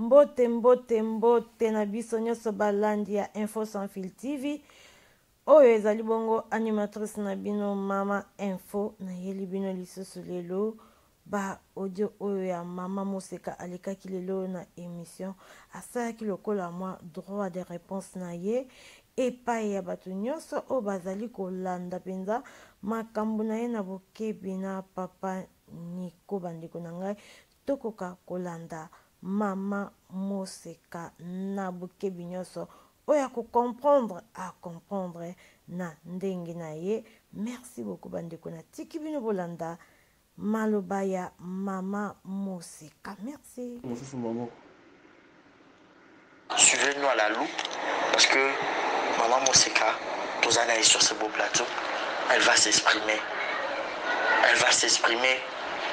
Mbote mbote mbote na biso nyonso balandi ya Info Sans Fil TV. Oyo ezali bongo animatrice na bino Mama Info nayeli bino lisusu lelo ba audio oyo ya mama moseka alekaki lelo na emission asalaki lokola mwa droit de réponse na ye epai ya bato nyonso oyo bazali kolanda mpenza makambo na ye na bokebi na papa niko bandeko na ngai Tokoka kolanda mama moseka na bokebi nionso oyo ako comprendre a comprendre na ndenge na ye merci beaucoup bandeko na tiki bino bolanda maloba ya mama moseka merci mosusu mama Suivez nous à la loupe parce que maman Moseka toza na ye sur ce beau plateau elle va s'exprimer elle va s'exprimer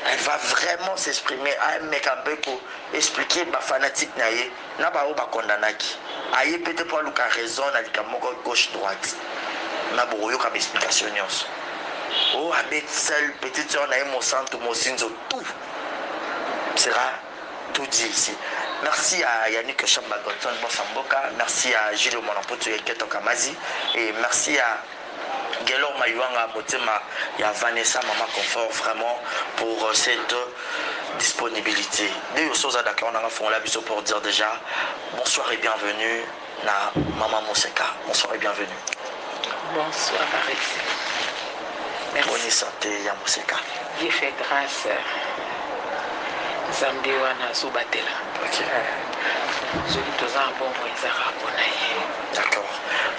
elle va vraiment s'exprimer ameka mpe koexplike bafanatike na ye na baoyo bakondanaki aye mpe te mpo aluka raison na likambo moko gauche droite na bokoyoka baexplication nyonso o oh, abeti sel petite sœur na ye mosantu mosinzo tout sera tout dit ici merci à Yannick Shamba Godson Bossa Mboka merci à Julio Mwana Mputu et Keto Kamazi et merci à Guelor Mayuanga Motema ya Vanessa Mama Confort vraiment pour euh, cette disponibilité. Dès que vous êtes d'accord, on a fongola biso pour dire déjà bonsoir et bienvenue. na maman moseka bonsoir et bienvenue bonsoir baresi boni sante ya moseka dieu fait grâce nzambe wana azobatela soki toza na bongo ezaka mpona ye d'accord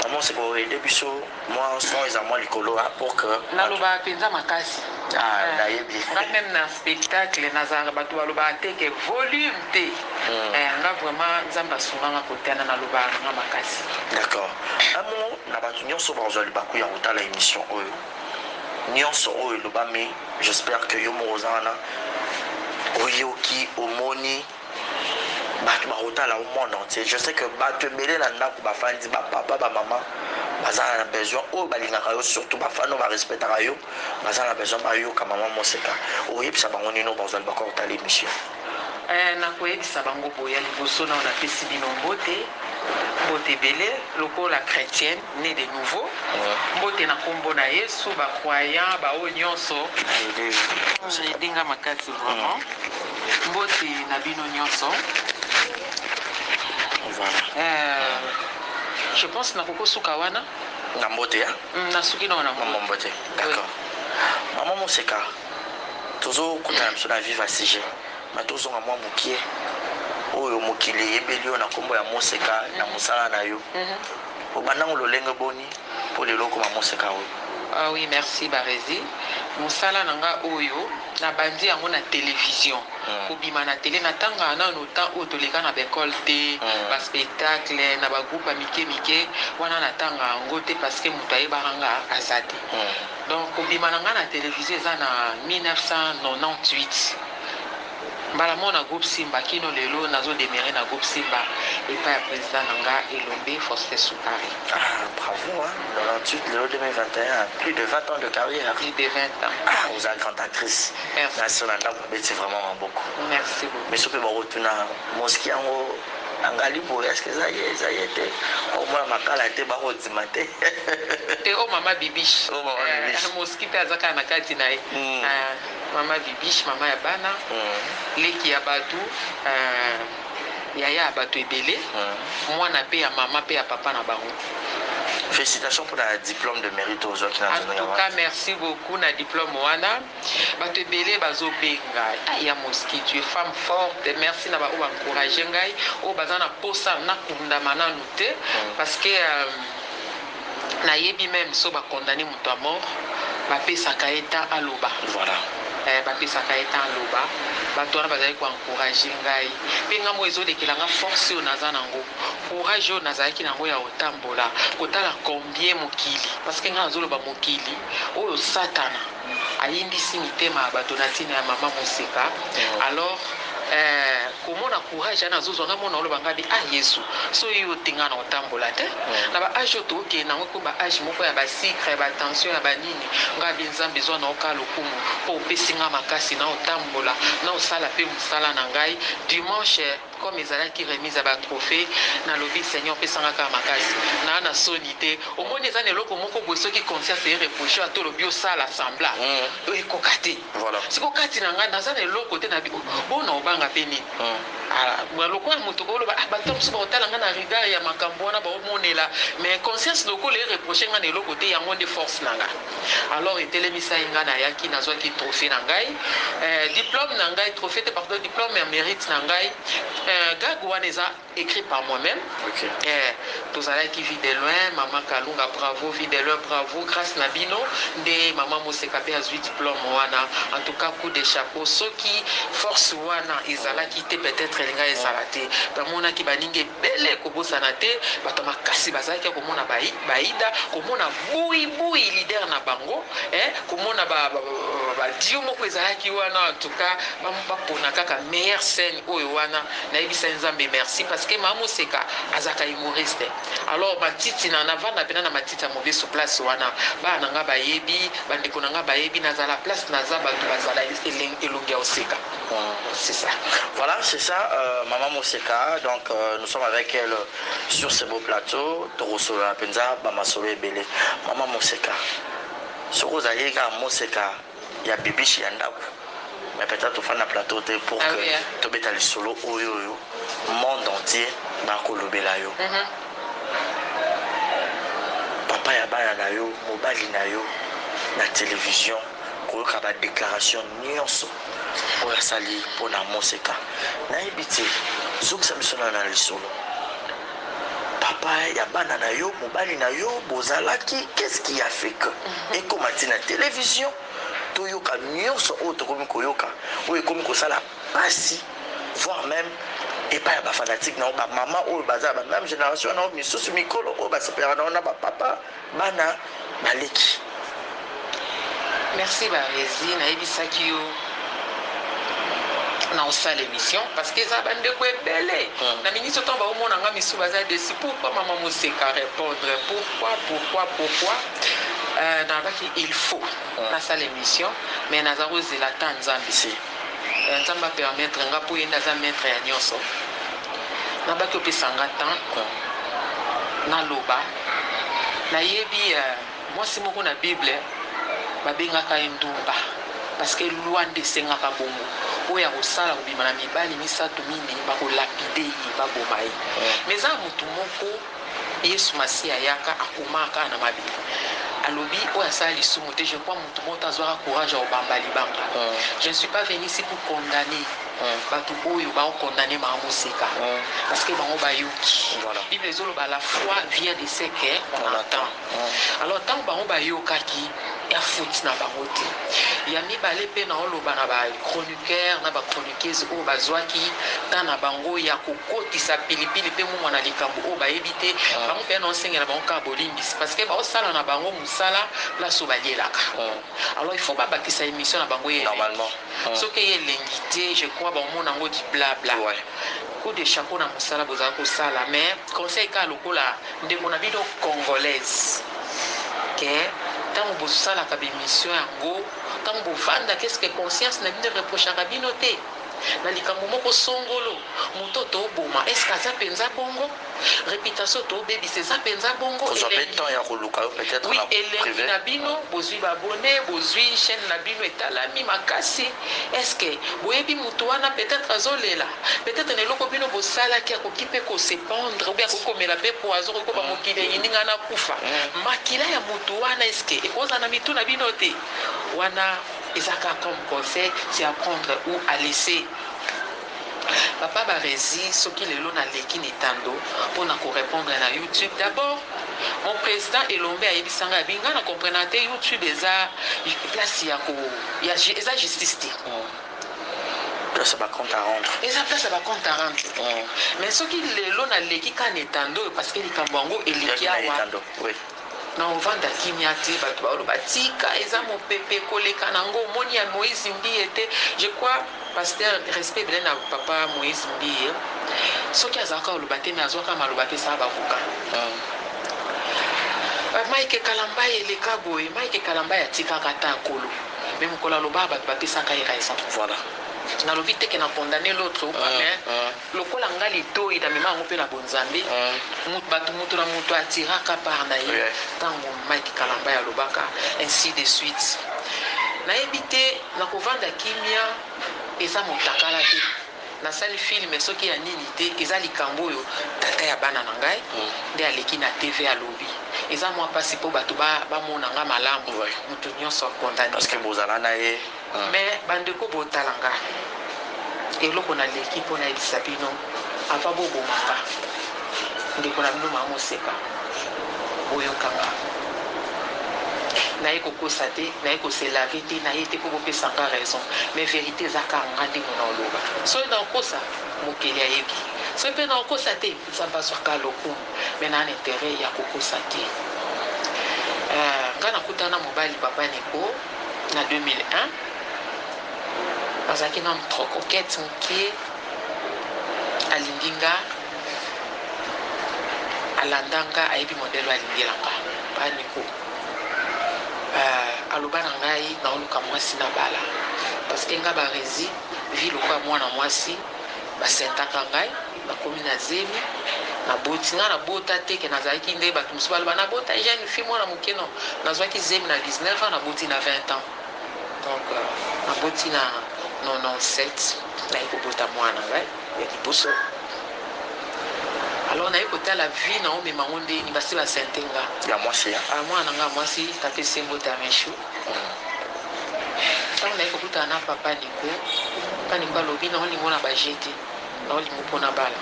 maman seka oede biso Mwa son eza mwa likolo hein, pour que. Nalobaka penza makasi. Ah, eh, nayebi. Nga meme na spectacle nazalaka bato balobaka te ke volume te. Mm. Eh, nga vraiment Nzambe asunga nga kotana nalobaka nga makasi. D'accord. Un mot na bato nyonso bazwa libaku ya kotala émission oyo. Nyonso oyo elobami, j'espère que yo moko oza wana oyoki, omoni. Batu bakotala yo monde entier je sais que batu ebele na ndaku ba fandi ba papa ba maman baza na besoin oyo balingaka yo surtout ba fan oyo ba respectaka yo baza na besoin bayoka maman moseka okoyebisa bango nini oyo bazali bako kotala emission. Ee, nakoyebisa bango boye, ya liboso nanu napesi bino mbote, mbote ebele, lokola chretienne. ne de nouveau mbote na kombo na yesu ba croyant ba oyo nionso ede nga makasi vraiment mbote na bino nionso je pense na koko suka wana na mbote ya mm, na suki na wana mbote d'accord maman moseka tozo kutana biso na viva sujet ma tozonga mwa mokie oyo mokili eyebeli yo na kombo ya moseka na mosala na yo mm -hmm. obanda ngo lolenge boni po lelo okoma moseka oyo. Ah oui merci Barezi musala na nga oyo na bandi yango na television mm. kobima na tele na tanga nano temps oyo toleka na b'ecole te mm. ba spectacle na ba groupe ya mike mike wana na tanga yango te parce que moto ayebaka nga aza te mm. donc kobima na nga na television eza na 1998 Mbala moko na groupe Simba kino lelo nazo demeure na groupe Simba epai ya president na nga elombe Faustin Sukari. Ah bravo hein, 98 lelo 2021, plus de 20 ans de carrière. Plus de 20 ans. Ah oza grande actrice. Merci. Na sio na ndako obeti vraiment maboko. Merci beaucoup. Biso pe bakotuna moski yango angali boye eske eza ye eza ye te okomona makala te bakodima te te o mama bibiche o mama bibiche eh, moski mpe aza kaka na kati na ye hmm. ah. Maman bibiche maman ya bana leki ya batu eeh yaya ya batu ebele mwana pe ya maman pe ya papa na bango. Felicitations pona diplome de merite oyo ozwaki na nzela ya wana. En tout cas merci beaucoup na diplome wana batu ebele bazo benga ah ya mosky tu es femme forte merci na ba oyo ba encourager ngai oyo baza na posa na kundama nanu te parce que euh, Na yebi meme so ba condamne moto a mort ba pesaka ye temps aloba. Voilà. Eh ba pesaka ye temps aloba. Batu wana bazali ko encourager ngai. Pe ngai moko ezo lekela ngai force oyo naza nango. Courage oyo nazalaki nango ya ko tambola. Kotala combien mokili. Parce que ngai nazo loba mokili oyo satana. Ayimbisi mitema ya bato na tina ya maman moseka alors eh komona courage wana azo zwa nga mona oloba nga be ah yesu soyi yo te nga nako tambola te na ba age oyo toko kende nango ekomi ba age moko ya ba sucre ya ba tension ya ba nini nga be nzambe zwa nao ka lokumu po opesi nga makasi nao tambola nao sala pe musala na ngai dimanche Comme ezalaki remise ya ba trophees, nalobi seigneur pesa nga kaka makasi naa na soni te, omoni eza na eloko moko boye soki conscience e reprocher yo ata olobi osala semblant ekoka te, sikoyo kati na nga naza na eloko te nalobi oh bona obanga pe nini? Ahh lokola mutu okoki oloba ah batu mususu bako tala nga na regard ya makambu wana bao monela mais conscience lokola e reprocher nga na eloko te yango nde force na nga. Alors etelemisa ye, ngai nayaki nazwaki trophee na ngai eh, diplome na ngai, trophee te pardon, diplome ya merite na ngai eh, gag wana eza écrit par moi-même okay. eh, tozalaki vie de loin, mama Kalunga bravo, vie de loin bravo, grâce na bino nde mama Moseka pe azwi diplome wana. En tout cas coup de chapeau, soki force wana ezalaki te peut-être elinga ezala te, bamonaki baninga Mbele kobosana te, bato ya makasi bazalaki ya komona Baida, komona buyibuyi leader na bango eh, komona ba, ba, ba, ba duo moko ezalaki wana. En tout cas, ba, bapona kaka meilleure scène oyo wana. Nayebisa Nzambe merci parce que Mama Moseka azalaka humoriste. Alors matiti na navanda pena na matiti ya mobesu place wana, bana na nga bayebi, bandeko na nga bayebi, nazala place naza, bato bazala elongi ya koseka. C'est ça voilà c'est ça euh, maman Moseka donc euh, nous sommes avec elle sur ce beau plateau tokosolola mpenza bamasolo ebele maman Moseka soki ozalaki kaka Moseka ya bibishi ya ndako mais peut-être tofanda plateau te pour ah, que oui, hein. tobeta lisolo oyo oyo monde entier bakolobela yo mm -hmm. papa ya bana na yo mobali na yo na télévision koyoka ba declaration nionso oyo asali pona moseka nayebi te zongisa biso nayo na lisolo papa ya bana na yo mobali na yo bozalaki qu'est-ce qui a fait que ekoma ti na television toyoka nionso oyo tokomi koyoka oyo ekomi kosala pasi voire meme epai ya ba fanatique na yo ba mama oyo baza na ba meme generation na yo misusu mikolo oyo basepelaka na yo na ba papa Bana ba leki merci barezi nayebisaki yo na osala emission parce que eza ba ndeko ebele na ministre ntango baomona nga misu baza desi pourquoi mama moseka repondre pourquoi pourquoi pourquoi euh, nalobaki il faut nasala emission mais naza kozela ata nzambe se euh, nzambe apermettre nga mpo ye nde aza maître ya nyonso nabaki opesa nga temps naloba Nayebi mwasi moko na bible babengaka ye ndumba parce que loi nde esengaka bongo oyo akosala kobima na mibali misatu mine bako lapide ye baboma ye mais eza na mutu moko yesu masiya ayaka akomaka kaka na mabele alobi oyo asala lisumu te je crois mutu moko te azuaka courage ya kobamba libanga je ne suis pas venu ici pour condamne batu oyo bao condamne bango moseka parce que bango bayoki bible ezoloba la foi vient de ce que on attend alors tango bango bayokaki ya faute na bango te ya mibale mpe naoloba na ba chroniqueur na ba chroniqueuse oyo bazwaki temps na bango ya kokotisa pilipili mpe mungwa na likambo oyo bayebi te bango mpe naosengela bango kaka bolimbisi parce que baosala na bango mosala place oyo balielaka alors il faut babakisa emission na bango ye Soki eye elengi te je crois ba omona ngo ki bla bla. Coup de chapeau na musala bozali kosala mais conseil kaka lokola ndeko na bino congolaise que tango bosalaka ba emission yango tango bovandaka est ce que conscience na bino e reprochaka bino te na likambo moko songolo moto toboma est ce que aza penza bongo? reputation to bebisa eza penza bongo kozwa pe temps ya koluka yo peut etre na prive na bino bozui ba abonne bozui chaine na bino etalami makasi est ce que boyebi mutu wana peut etre azo lela peut etre na eloko bino bosalaki akoki pe ko se pendre ou bien akoki komela pe poison akoki koba mokili eyindi nga na kufa makila ya mutu wana est ce que ekozala na mitu na bino te wana eza ka comme conseil c'est à prendre ou à laisser. Papa Barezi soki lelo na leki na etando po na ko repondre na YouTube d'abord mon president Elombe ayebisa nga abi nga na comprenaka te YouTube eza place ya ko ya eza justice te place ya ba compte à rendre eza place ya ba compte à rendre mais soki lelo na leki ka na etando oyo parce que likambo yango eleki awa Na ovanda kimia te batu baloba tika eza mopepe koleka na ngo omoni ya moise mbiye te je crois pasteur respect ebele na papa moise mbiye soki azalaka koloba te mais azuaka maloba apesaka ba avocat ba mike kalambay eleka boye mike kalambay atikaka ata akolo mais mokolo alobaka batu bapesaka ye raison voilà nalobi te ke na condamne l'autre ou pas mais Lokola nga litoyi na mema yango pe na bonzambe batu mutu na mutu a tiraka part na ye tango Mike kalambay alobaka ainsi de suite na yebi te na ko vanda kimia eza mutakala te na sali film soki ya nini te eza likambo oyo tata ya bana na ngai nde aleki na TV alobi eza mua pasi po batu ba mona nga malamu mutu nionso a condamne nga. Mais bandeko botala nga eloko na leki po nayebisa bino avant boboma nga ndeko na bino mama moseka boyoka nga naye kokosa te naye ko se laver te naye te po bopesa nga raison mais verite eza kaka nga nde muna oloba soki nakosa mokeli ayebi soki pe nakosa te nzambe azua kaka lokumu mais na na interet ya kokosa te euh nga nakutana na mobali papa niko. na 2001 azalaki nanu trop coquette mukie alingi nga alanda nga ayebi modèle oyo alingela nga papa Nico euh, aloba na ngai naoluka mwasi na bala parce que nga barezi vie lokola mwana mwasi basentaka ngai Nakomi na zemi naboti nga na bota te ke nazalaki ndenge batu mosusu baloba na bota jeune fille mwana moke non nazwaki zemi na 19 ans naboti na 20 ans donc naboti na 97 naye kobota mwana nga ya liboso alors naye kotala vie na omema ngo ndeni basi ba sente nga ya mwasi ya ah, mwana nga mwasi tata esengo tamichu ntango naye kokutana na papa niko papa niko alobi na olingo na bajete Na olingo pona bala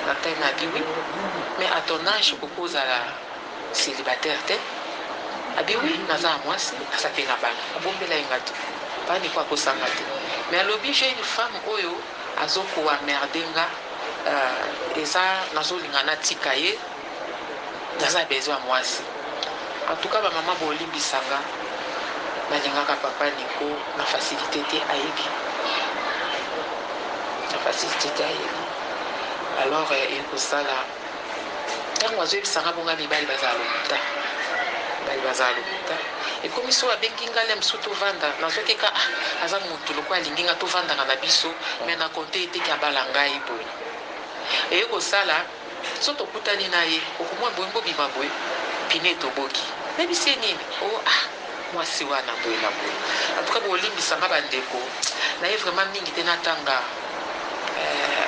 na time na bi oui mais à ton age okoki kozala celibataire te abi oui naza na muasi aza pe na bana abombela ye nga tout papa Nico akosa nga te mais alobi j'ai une femme oyo azo ko emmerder nga euh eza nazo linga natika ye naza besoin ya muasi en tout cas ba maman bolimbisa nga nalingaka papa Nico na facilite te ayebi na facilite te ayebi alors euh, ekosala ntango azoyebisa nga bonga mibali bazala lokuta mibali bazala lokuta ekomi so abengi nga le mosusu tovanda nazwaki ka ah, aza motu lokola alingi nga tovandaka na biso me na konte eteki abala ngai boye eye kosala Soki tokutani na ye okomona bolingo bobima boye pine etoboki nayebi se nini oh ah mwasi wana boye na boye en tout cas bolimbisa nga ba ndeko naye vraiment mingi te natanga eh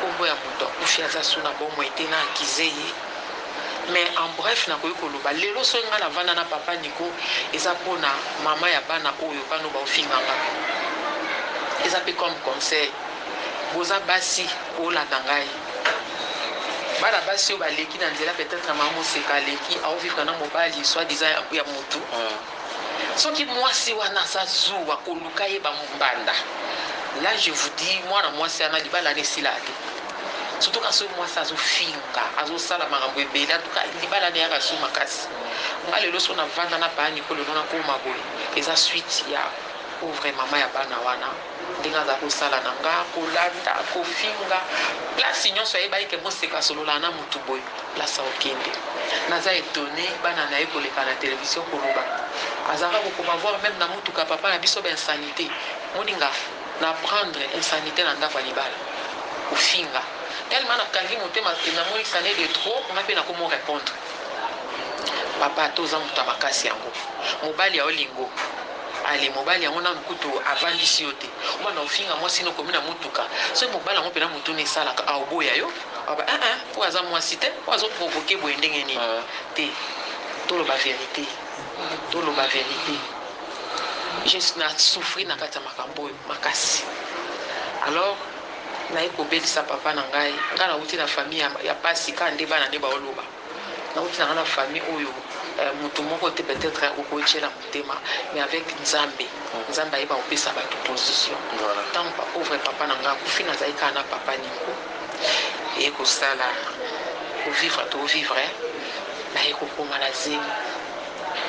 kombo ya mutu akufi aza su na bomoi te na accuser ye mais en bref nakoki koloba lelo soki nga navanda na papa Nico eza pona maman ya bana oyo bana oyo baofinga nga eza pe comme conseil boza basi bolanda ngai Bana basi oyo baleki na nzela peut etre mama moseka aleki au vivre na mobali soit disant ya ya mutu soki muasi wana aza zuwa koluka ye ba mbanda là je vous dis muana muasi wana libala wana esilaka te surtout ka soki muasi azo finga azo sala makambo ebele en tout cas libala wana eyaka su makasi nga lelo so na vanda na bani ko lelo na koma boye eza suite ya pauvre mama ya bana wana Ndenge aza ko sala na nga, ko lata, ko finga, place nionso ayebaki ke Moseka asololaka na mutu boye, place ako kende. Naza etonne bana na ye ko leka na television ko loba. Azalaka ko koma voir meme na mutuka ya papa na biso ba insanites. Moninga, na apprendre insanite na ndaku ya libala. Ko finga. Tellement na kangi motema ke na moni que ça n'est de trop, nga pe nako mo repondre. Papa ata oza mutu ya makasi yango, mobali ya olingo. Allez mobali yango nanu kutu avandisi yo te obanda kofinga mwasi no okomi na mutuka soki mobali yango pena motuna esalaka aoboya yo aba eh eh oyo aza mwasi te oyo azo provoke boye ndenge nini te toloba verite toloba verite je na souffrir na kati ya makambo oyo makasi alors naye kobelisa papa na ngai ngai nauti na famille ya pasi kaka nde bana nde baoloba Nakokisa nga na famille oyo mutu moko te peut etre okoki tiela motema mais avec nzambe nzambe ayeba kopesa batu position tangu ba pauvre papa na nga akufi nazali kaka na papa Nico eye kosala ko vivre to vivre naye kokoma na zemi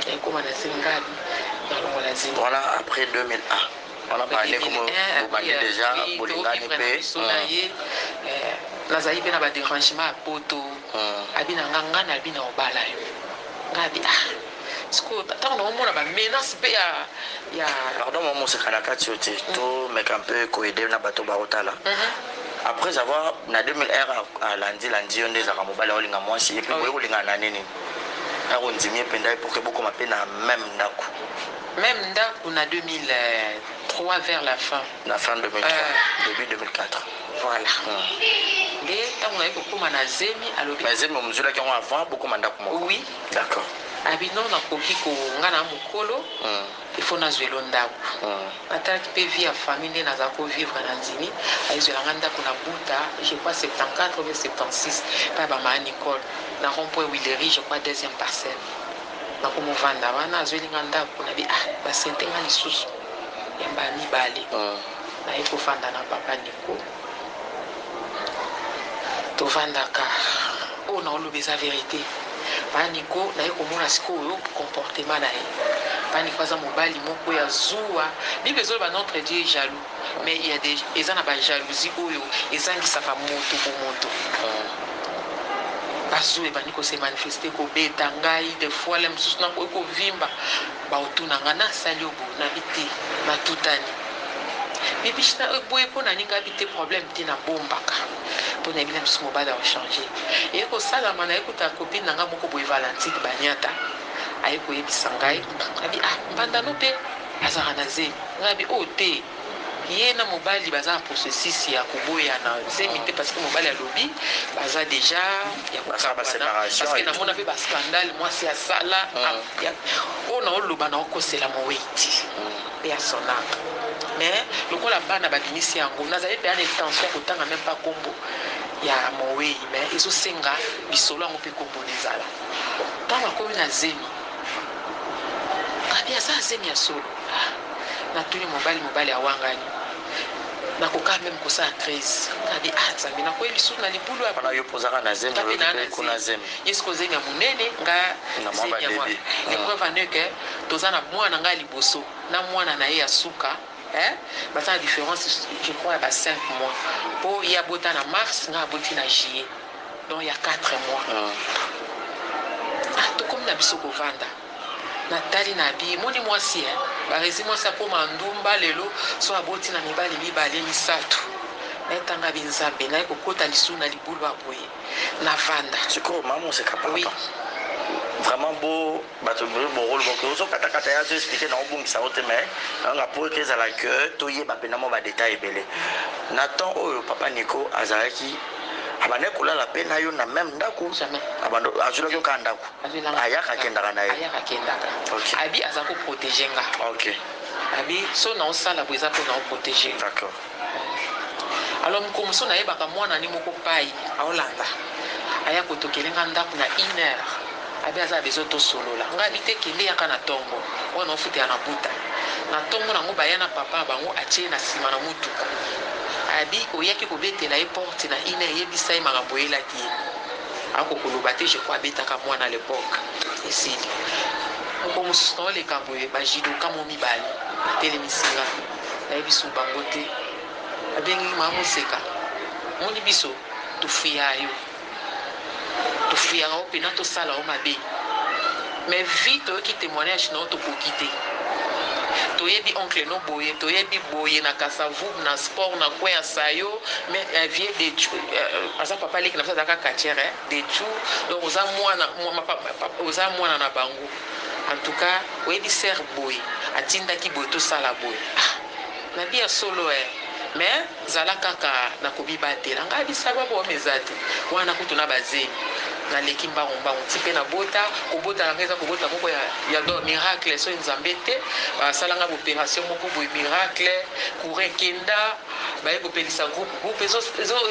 naye koma na zemi ngabi nalongo na zemi wana après 2001 wana bande komo bobandi deja bolingani mpe nazali mpe na baderangement ya poto Abi na nga nga na bi nao bala yo nga abi ah sikoyo tango nao mona ba menace pe ya ya pardon mwa moseka na kati yo te to meka mpe ko aider na bato ba kotala après avoir na 2001 alandi landi yo nde ezalaka mobali ya kolinga mwasi epuis boye kolingana na nini na kondimi ye mpenza ye pour que bokoma mpe na meme ndako meme ndako na 2003 vers la fin na fin 2003 début 2004 Voilà nde tango naye kokoma na zemi alobi. Na zemi omzulaki yango avant bokoma ndaku moko? Oui. D'accord. Alobi non nakoki ko nga na mukolo il faut nazuelo ndaku. Natalaki pe vie ya famille nde naza ko vivre na ndimi aye zuela nga ndaku na buta je crois 74 ou bien 76 epa ya ba ma Nicole na rond point huilerie je crois deuxième parcelle nakomo vanda wana azueli nga ndaku nabi ah ba sente nga lisusu yamba ya mibale. Naye kofanda na papa Nico tovandaka oyo na oloba eza verite papa Nico naye komona sikoyo comportement na ye papa Nico aza mobali moko ya zuwa bible ezoloba notre Dieu est jaloux mais il y a des eza na ba jalousie oyo ezangisaka moto bomoto bazuwa ebandi ko se manifester kobeta ngai de fois le mosusu nakoki kovimba Bakotuna nga n'a sali yo bo nabi te n'a tutani bibiche n'a eboyi po n'a ningabi te problème te n'a bombaka po nayebi n'a biso mobali ako change eye kosalama naye kotala copine n'a nga moko boye valentine baniata aye koyebisa ngai nabi ah mbanda no pe azalaka n'a zemi nga nabi oh te ye na mobali baza na processus ya koboyana zemi te parce que mobali alobi baza deja ya Basala ba kokabana separation parce que et tout. namona mpe ba scandale mwasi asala Mm. ya- oyo naoloba naokosela mowei te mpe ya son ame mais lokola bana babimisi yango nazali mpenza na intention ya kotanga meme pas nkombo ya mowei mais ezosenga lisolo yango mpe nkombo na ezala ntango akomi na zemi Gaby aza zemi ya solo ah natuni mobali mobali awangani nakoka meme kosala crise Gaby ah nzambe nakueyi lisusu na libulu ya Wana yo mpe ozaka na zemi, nga mpe olobi naa mpe na kuna zemi zemi. ye sikoyo zemi ya monene nga Na mwa zemi ya mwa babebi. Ah. epreuve en est que toza na mwana nga ya liboso na mwana na ye ya suka eh baza na difference je crois ya ba cinq mois mpo ye abota na mars nga aboti na juillet Donc ya quatre mois ah tokomi na biso kovanda na tali na bi moni mwasi eh barezi mwasi akoma ndumba lelo so aboti na mibali mibale misatu naye tanga bi nzambe naye kokota lisu na libulu aboye na vanda sikoyo mamu oseka papa oui vraiment bo Batu ebele bo koloba que ozo kata kata ye azo expliquer nao bungisa yango te mais nao linga po eke ezala que to yeba pena mua ba details ebele. Na temps oyo papa Nico azalaki abandaki kolala pe nayo na meme ndaku? Jamais. Azuelaki yo kaka ndaku? Ayaka akendaka naye? Ayaka akendaka. Ok. Abi aza ko proteger nga. Ok. Abi soki nao sala boye eza po nao proteger yo. D'accord. Alors mukomuso na yebaka muana ne moko payi aolanda aya kotokele nga ndaku na une heure abi aza na besoin tosolola nga abi te kende yaka na tongo oyo na ofutela na buta na tongo nango baya na papa na bango atie ye na sima na mutuka abi oyaki kobetela ye porte na une heure yebisa ye makambo oyelaki ye ako koloba te je crois abetaka muana à l'epoque esili mukomususu naoleka boye ba judoka mo mibale batelemisi nga. Nayebi sous bango te abengi ma moseka omoni biso tofuyaa yo tofuyaka yo pena tosala yo mabe mais vie toyoki temoignage na yo tokoki te toyebi oncle no boye toyebi boye na kasa vubu na sport na coin ya sayo mais eh, vieux dechu eh, aza papa leki na biso azalaka catcheur eh, dechu donc oza mwana oza mwana na bango En tout cas oyebi sœur boye atindaki boye tosala boye ah nabi ya solo eh mais zala kaka na komibatela ngai bisababu wana eza te wana kutu na ba zemi naleki mbangu mbangu ti pe nabota kobota na ngai eza kobota moko ya ya do miracle soki nzambe te basala ngai boperation moko boye miracle courant ekenda baye kopelisa groupe groupe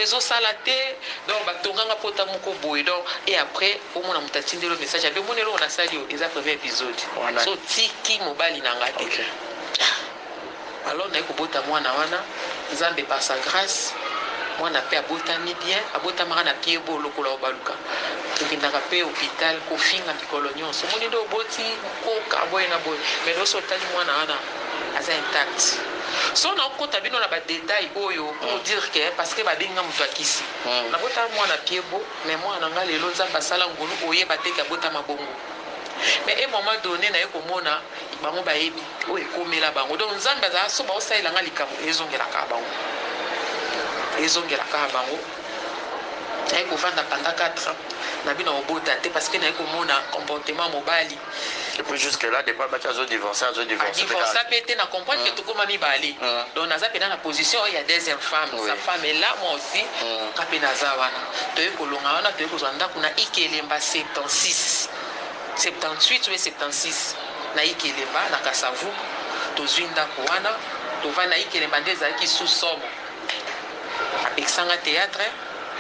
ezosala te donc batonganga pota moko boye donc et après Omona mutu atindeli yo message abi omoni eloko nasali yo eza premier episode so otiki mobali nanga te okay. alors naye kobota mwana wana nzambe par sa grace mwana pe abotami bien abotamaka na pied bo lokola obaluka tokendaka pe hopital kofinga mikolo nyonso omoni nde oboti koka boye na boye mais loso otali mwana wana aza intact so na okota bino na ba detail oyo pour dire que parce que babenga moto akisi hmm. nabota mwana pied bo Mais mwana na nga lelo nzambe asala ngolu oyeba te ke abotama bongo mais un moment donne naye komona bango bayebi oyo ekomela bango donc nzambe azala soki baosalela nga likambo ezongela kaka bango ezongela kaka bango naye kovanda pendant 4 ans nabi na obota te parce que naye komona comportement mobali puis jusque là depuis abaki azo divorce azo divorce divorce pe te na comprendre que mm. tokoma mibale mm. donc naza pena na position oyo ya deuxième femme sa femme est là moi aussi mm. ka pe naza wana toye kolonga wana toye kozwa ndako na ikelemba 76 78 ou 76 na ikelemba na kasavu tozwi ndako wana tovanda ikelemba nde ezalaki sous somo Apekisa nga theatre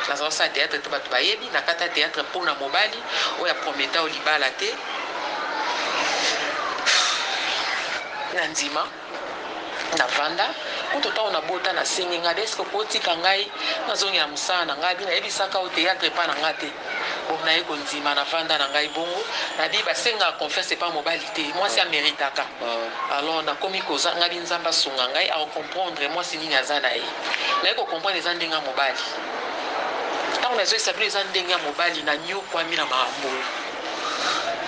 naza osala theatre te bato bayebi nakata theatre mpo na mobali oyo aprometa o libala te na ndima na vanda kutu ntango nabota nasengi ngai eske okotika ngai nazongela mosala na ngai abi nayebisaka o theatre epa na ngai te Bon naye kondima na vanda na ngai bongo na bi ba senga confiance epa mobali te mwasi a meritaka alors na komi koza nga bi nzambe asunga ngai a comprendre mwasi nini aza na ye naye ko comprendre eza ndenge ya mobali tango na zoyisa bino eza ndenge ya mobali na niokwami na makambo oyo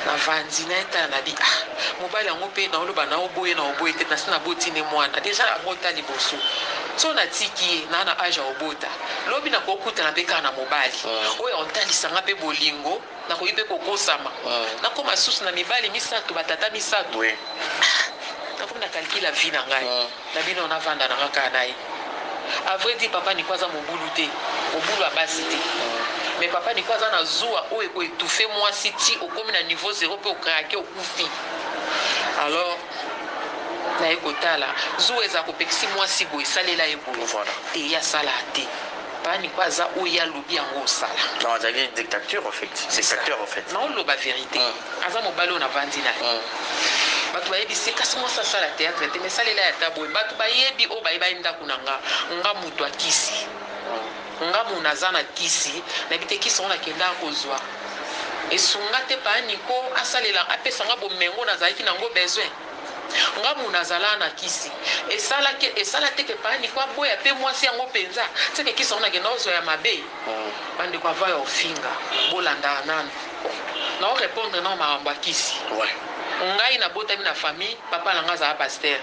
na vandi na etala na bi ah mobali yango pe na oloba na oboye na oboye te na si na boti ne mwana deja abota liboso so na tiki ye na na age ya obota Lobi na kokutana pe kaka na mobali oyo akotalisa nga pe bolingo, nakoki pe kokosama. Nakoma lisusu na mibali misato, ba tata misato. Ah! Nakomi na calcula vie na ngai na bino navanda na nga kaka na ye. A vrai dire papa Nico aza mobulu te, mobulu ya basi te. Mais papa Nico aza na zuwa oyo eko etouffer mwasi ti okomi na niveau zero pe o craquer okufi. Alors. naye kotala zuwa eza kopekisi muasi boye salela ye boye voilà te ye asala te papa nico aza oyo ye alobi yango osala non azali dictature ofait dictateur ofait nao loba verite mm. aza mobali oyo navandi naye mm. bato bayebi se kasi mwasi asala teatre te me salela ya ta boye bato bayebi oyo baye baye ndako na nga nga moto akisi mm. Nga mona aza na kisi nayebite kisi yango nakendaka kozua esunga te paa Nico asalela apesa nga bomengo nazalaki na ngo besoin nga mona azalaka na kisi esala ke esala te ke paa Nico aboya pe muasi yango penza ce ke kisi yango nakendaka kozua ya mabe ba ndeko avant ya ofinga bolandaka nanu nao repondre nao makambo ya kisi ngai nabotami na famille papa na ngai azalaka pasteur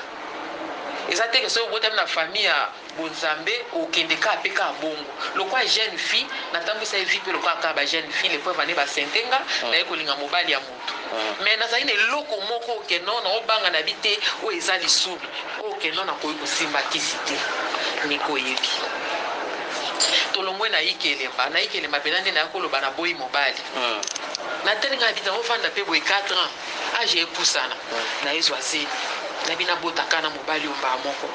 eza te ke soki obotami na famille ya Bonzambe okende kaka pe kaka bongo lokola jeune fille na tambwisa ye vie pe lokola kaka ba jeune fille le preuve en est ba sente nga naye kolinga mobali ya mutu mais nazali na eloko moko oyo ke non nao banga na bi te oyo eza lisubi oyo ke non nakoki kosimba kisi te nico oyebi tolongwe na ike elemba na ike elemba pena nde naya koloba na boyi mobali na tali nga na bi te nao vanda pe boye 4 ans. age epusana naye zwa zemi nayebi nabota ka na mobali oyo mbaa moko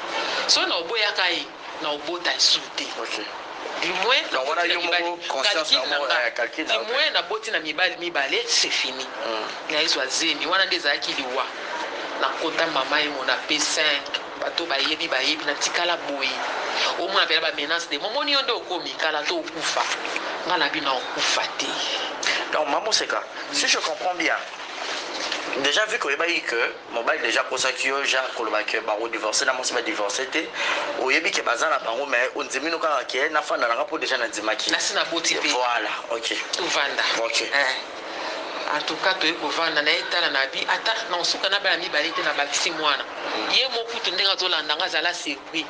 soki na oboyaka ye na obota lisusu te okay. Dimwe na wana yo moko conscience na moko ya calcul na Dimwe na boti na mibali mibale c'est fini mm. na ezwa zemi wana nde ezalaki liwa na kota mama ye mona pe 5 Bato bayebi bayebi na tikala boye omona pena ba menace de mo moni yo nde okomi kala to okufa nga na bino nao kufa te donc ma moseka si je comprends bien dejà vu que oyebaki que mobali dejà akosaki yo ja koloba que bako divorce na mwasi ba divorce te oyebi que baza na bango mais ondimi no kaka que nafanda na nga po dejà na ndimaki nasi na boti pe voilà ok tovanda ok eh. En tout cas toye kovanda naye tala na bi ata nakosuka na bana mibale te na bakisi mwana ye moko kutu ndenge azo landa nga zala surpris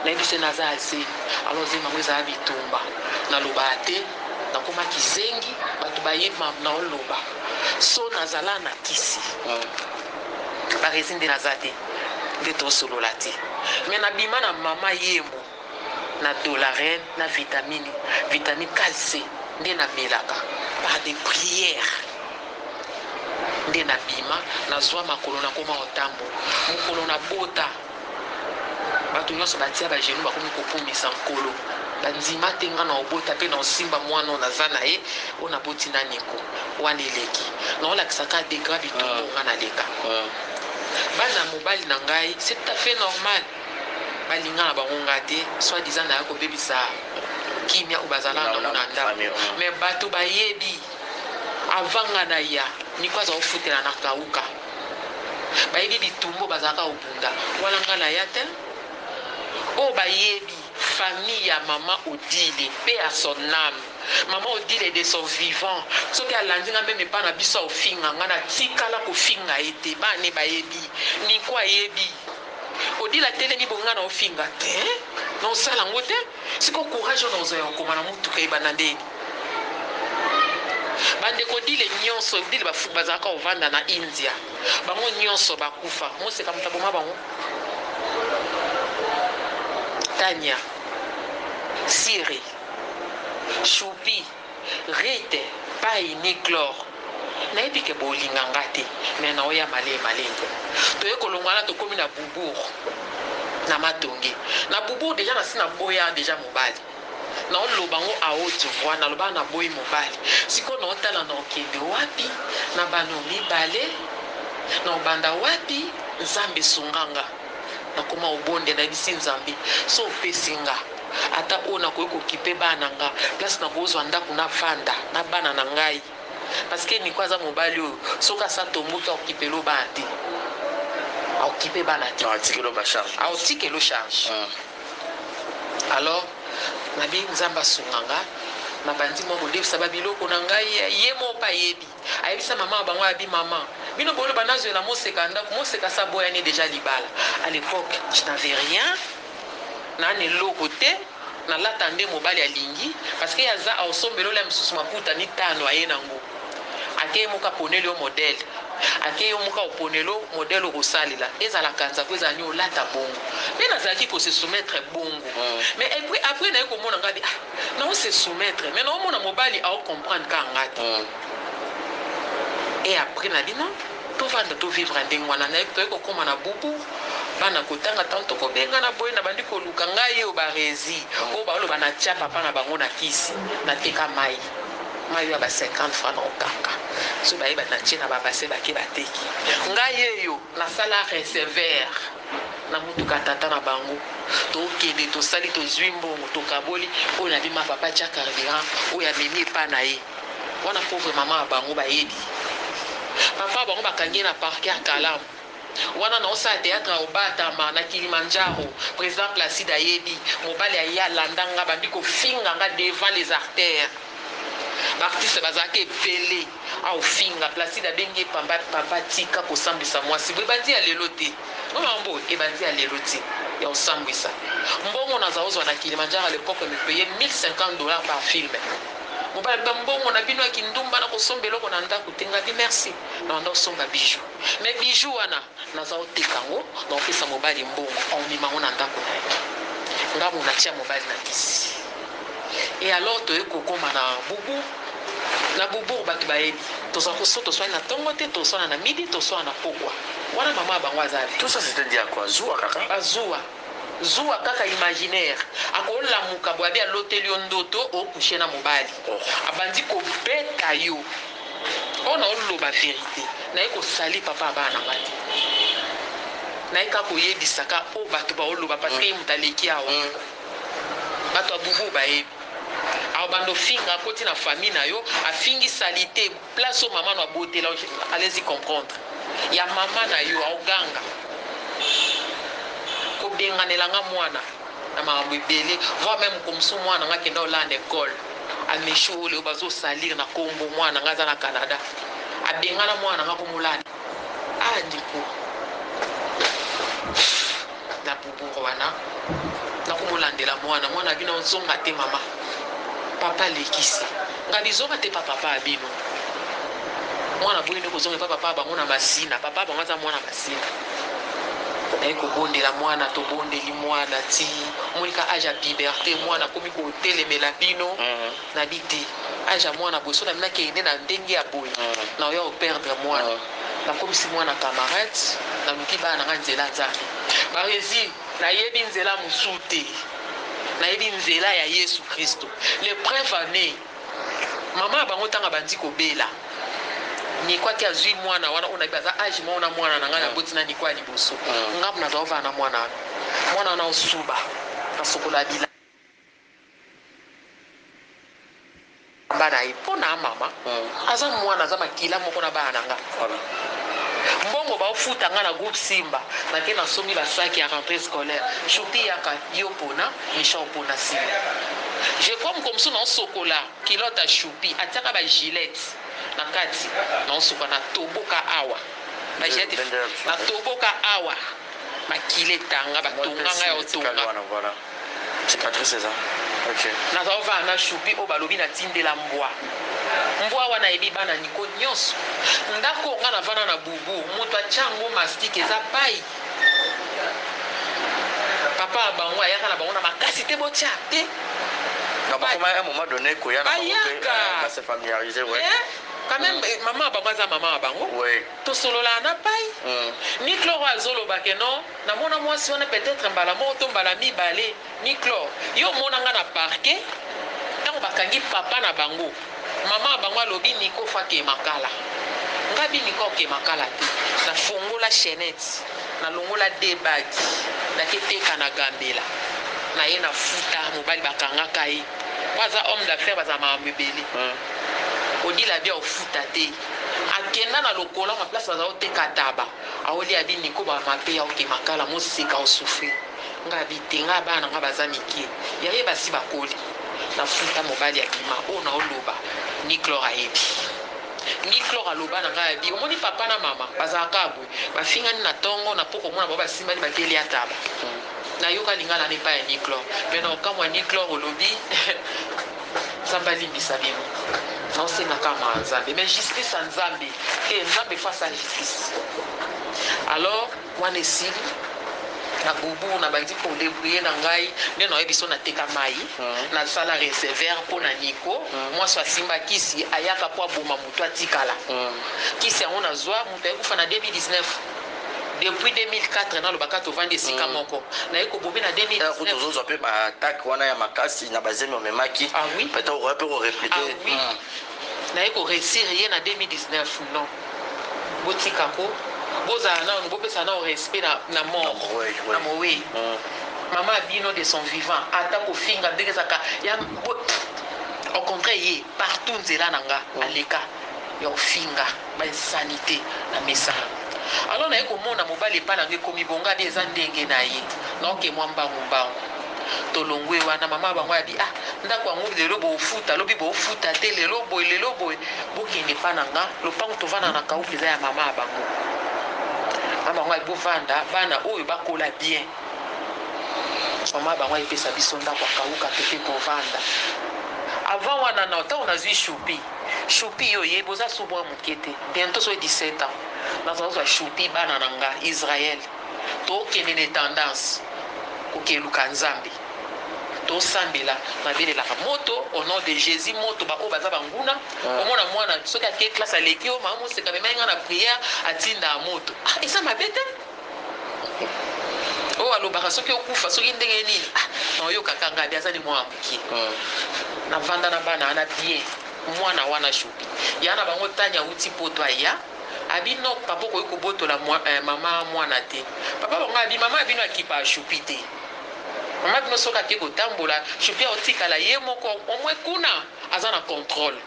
nayebi se naza ya zemi alors zemi yango ezala bitumba nalobaka te nakoma kizengi batu bayebi makambo nao loba so nazala na kisi barezi nde naza te nde tosolola te mais nabima na mama yemo na dollaren na vitamini vitamini calce nde na melaka par de priere nde na bima na zwa makolo na koma otambo mokolo na bota bato nyonso batia ba genou bakomi kokumisa nkolo bandima te nga na obota pe na osimba mwana oyo naza na ye oyo naboti na niko wana eleki na olakisa ka degra bitumbu nga na leka bana mobali na ngai c'est tout à fait normal Ba linga na bango nga te soit disant naya ko bebisa kimia oyo bazala na ngo na ndaku mais batu ba yebi avant nga na ya Nico aza ko futela na kauka ba yebi bitumba oyo bazalaka ko bunda wana nga na ya te oyo ba yebi famille ya maman Odile pe à son âme maman Odile de son vivant soki alandi nga meme epa na biso afinga nga na tikala ko finga ye te bana ne ba yebi Nico ayebi Odile atelemi boye nga nao finga tein nao sala yango te sikoyo courage oyo nakozwa ya kokoma na mutuka ebanda nde bandeko odile nionso odile bafu bazalaka kovanda na india bango nionso bakufa moseka moto aboma bango tania siri shupi Rite payi ni glore nayebi ke bolinga nga te mais nao ya malee malee toye kolongwana tokomi na boubour na matonge na boubour dejà nasi na boya dejà mobali nao loba ngo a haute voix nalobaka na boyi mobali sikoyo nao tala nao kende wapi na bano mibale nao banda wapi nzambe sunga nga nakoma obonde nayebisi nzambe so opesi nga ata oyo nakoki ko kipe bana na nga place nako zwa ndaku na vanda na bana na ngai parce que Nico aza mobali oyo soki asi atomboki ako kipel'o bana te ako kipe bana te ako tikel'o charge alors na bi nzambe asunga nga na bandi mua ko devisa ba biloko na ngai ye moko pe ayebi. Ayebisa maman na bango abi maman bino boloba nazuela moseka na ndaku moseka asi aboya ne deja libala a l'epoque je n'avais rien na n'eloko te na lata nde mobali alingi parce que ye aza aosombela olia misusu maputa mitano aye na ngo ake ye moko aponeli yo modele ake yo moko aoponelo modele okosalela ezala kanza po ezala nio olata bongo pe nazalaki ko se soumettre bongo mais epuis apres naye komona nga abi ah Nao se soumettre mais nao mona mobali ao comprendre kaka nga te et après na bino to vanda to vivre ndenge wana nayebi toye ko koma na bubu bana ko tanga tango toko bengana boye na bandi ko luka nga ye obarezi oyo bao loba na tia papa na bango na kisi na teka mayi mayi oyo ya ba 50 francs nao kanga soki ba yeba na tie na ba bassin bake ba teki nga ye yo Na sala resever na mutuka tata na bango to kende to sali to zui mbongo to kaboli oyo na bima papa tia carburant oyo amemi epa na ye wana pauvre maman ya bango ba yebi papa ya bango ba kangi ye na parquet ya kalamu wana na osala theatre ya obatama na kilimandjaro president placide ayebi mobali ya ye alanda nga bandi ko finga nga devant les artères ba artistes bazalaka ebele Au finga placide abengi ye pamba papa tika kosambwisa mwasi boye ebandi ya lelo te oyo mambo ebandi ya lelo te ya osambwisa mbongo naza ozwa na kilimandjara le peuple me paye 1050 dollars par film mobali alobi mbongo na bino ya kindumba na kosomba eloko na ndaku te ngabi merci na banda osomba bijoux me bijoux wana Naza oteka yango na opesa mobali mbongo omema yango na ndako na yo nga muana tia mobali na kisi et alors toye kokoma na boubou na boubourg batu bayebi toza koso toswani na tongo te toswana na midi toswana na pokwa wana maman ya bango aza Tout ça c'est un dia quoi zuwa kaka. Ba zuwa zuwa kaka imaginaire ako lamuka boye abi aloteli yo ndoto o couche na mobali abandi ko beta yo. Pona oloba verite naye ko salir papa ya bana nanga te naye kaka koyebisa ka oyo batu bao loba parce que ye mutu aleki awa batu ya bubu bayebi aobanda ofinga akoti na famille nayo afingi salite place oyo mama no abotela yo allez y comprendre ya mama nayo aoganga kobenganela nga muana na makambo ebele voir meme okomisa mwana nga kenda olanda ecole amesho oyo leo bazo salir na kombo mwana nga aza na canada abengana mwana nga komolanda ah ndeko na bobour wana nakomolandela mwana mwana bino ozonga te mama papa alekisi nga bizonga te pa papa abino mwana boyende kozonga epa papa bango na masina papa bango aza mwana masina naye kobondela mwana tobondeli mwana ti monika age ya piberte mwana akomi kotelemela bino mhm. na bi te age ya mwana boye so na minaki ene na ndenge ya boye mhm. na oya koperdre mwana mhm. nakomisi mwana camarade naluki bana na ngai nzela nzambe barezi nayebi nzela mosusu te nayebi nzela ya yesu kristo le preuve annee Maman na bango tango abandi kobela Nico ake azui muana wana oyo nayebi aza age moko na muana na ngai na boti na Nico ya liboso ngambo na zalaki kovanda na muana wana muana wana osuba na sokola ya bilamba na ye mpo na mama aza muana aza makila moko na bana na nga mbongo baofuta nga na groupe Simba nake na sombi basaki ya rentree scolaire Choupi yaka yo pona Richard opona sima je crois mokolo mosusu nao sokola culotte ya Shopee atiaka ba gilette na kati nao suka na toboka awa ba gilette na toboka awa makila etanga ba tonga ngai yao tonga nazao vanda na Shopee oyo balobi na tindela mbwa mbwa wana ayebi bana Nico nionso ndako oyo ngai na vanda na boubou mutu atia yango mastic eza payi. Papa na bango ayaka na bango na makasi te botia te non bakoma un moment donne koya na bango pe ba se familiariser ouais eh, quand même mm. Eh, maman bango aza maman na bango ouais tosolola na pai mm. ni cloro azoloba ke non namona mwasi wana peut-être mbala moko to mbala mibale Niclor yo omona nga na parquet tango bakangi papa na bango maman na bango alobi Nico fa ke makala nga bi Nicor ke makala te na fongola chainette na longola deux bague na ke teka na gambela na ye na futa mobali ba kanga ka ye po aza homme d'affaire ba za makambo ebele odila bi ao futa te akenda na lokola ma place ba za oteka taba aolia bi Nico ba mape yao ke makala mo seka o souffrir. Nga bi te nga bana na nga baza mikie ya ye basi bakoli na futa mobali abima oyo na o loba niclor ayebi niclor aloba na nga ya bi omoni papa na mama bazala ka boye ba fingani na tongo na poko mona bango ba simbani ba ke lia taba na yoka lingala wana epai ya niclor mais na okamwa niclor olobi nzambe alimbisa bino na osenga ka ma nzambe mais justice ya nzambe te nzambe face a justice alors Wana esili, na bobo na bandi ko debrouiller na ngai nde na oyebi so na teka mayi na sala resever po na Nico muasi a simba kisi a yaka po a boma mutu a tikala kisi yango na zwa mutu aye kufa na 2019 depuis 2004 na loba ka to vandi esika moko na ye ko bomi na 2019 Tozo zwa pe ba attaque wana ya makasi na ba zemi omemaki peut etre okoya pe ko replique. naye ko reussir ye na 2019 non botika ko bozala nanu bopesa nao respect na na mort na moweyi maman ya bino de son vivant ata kofinga ndenge ezaka ya au contraire ye partout nzela na nga aleka ya ofinga Ba insanite na mesa alors naye komona mobali epa na ngai ekomi bonga bien eza ndenge naye naoke mwa mbangu mbangu tolongwe wana maman bango abi ah ndaku yango lelo bofuta lobi bofuta te lelo boye lelo boye bokende epa na nga lopangu tovanda na kaupe eza ya maman bango maman bango abi bovanda bana oyo bakola bien maman bango epesa biso ndaku akauka toke kovanda avant wana na ntango nazwi shupi Choupi yo oyebi oza sous mua muke te bientot soki 17 ans naza kozwa choupi bana na nga Israël tokende na etendance kokeluka nzambe tosambela nabelelaka moto au nom de Jesus moto ba oyo baza banguna ah. omona mwana soki ake classe aleki yo mama moseka mema ye nga na prière atinda moto ah, eza mabe te oyo alobaka soki okufa soki ndenge nini ah, naoyokaka ngabi aza ni mwana moke hmm. navanda na bana wana bien mwana wana jobi ya na bango tani awuti poto aya abi no papa okoki kobotola mwa, eh, mama mwana te papa bango abi mama abino akipa ashupi te mama bino soki ake kotambola shupi aotikala ye moko omwe kuna Aza na controle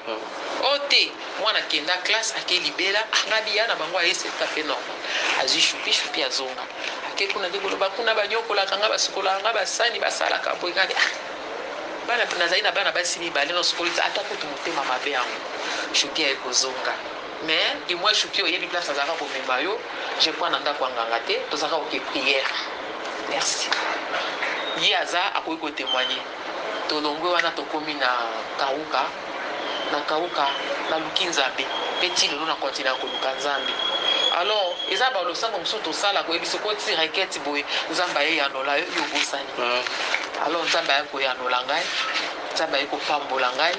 oyo te mwana akenda classe ake libela angabi ya na bango aye c'est tout à fait normal azui shupi shupi azonga ake kuna nde koloba kuna baniokolaka nga basukolaka nga basani basalaka boye nga nde ah bana nazali na bana basi mibale na osukoli te ata kutu motema mabe yango shupi aye kozonga mais du moins shupi oyebi place azalaka komema yo je crois na ndako ya nganga te tozalaka oke prière merci ye aza akoki kotemoigne Tolongwe wana tokomi na kauka na kauka naluki nzambe pe ti lelo na continua koluka nzambe alors eza ba losambo mosusu tosala boye biso ko ti requete boye nzambe aye yanola yo yo obosani alors nzambe aye koyanola ngai nzambe aye kopambola ngai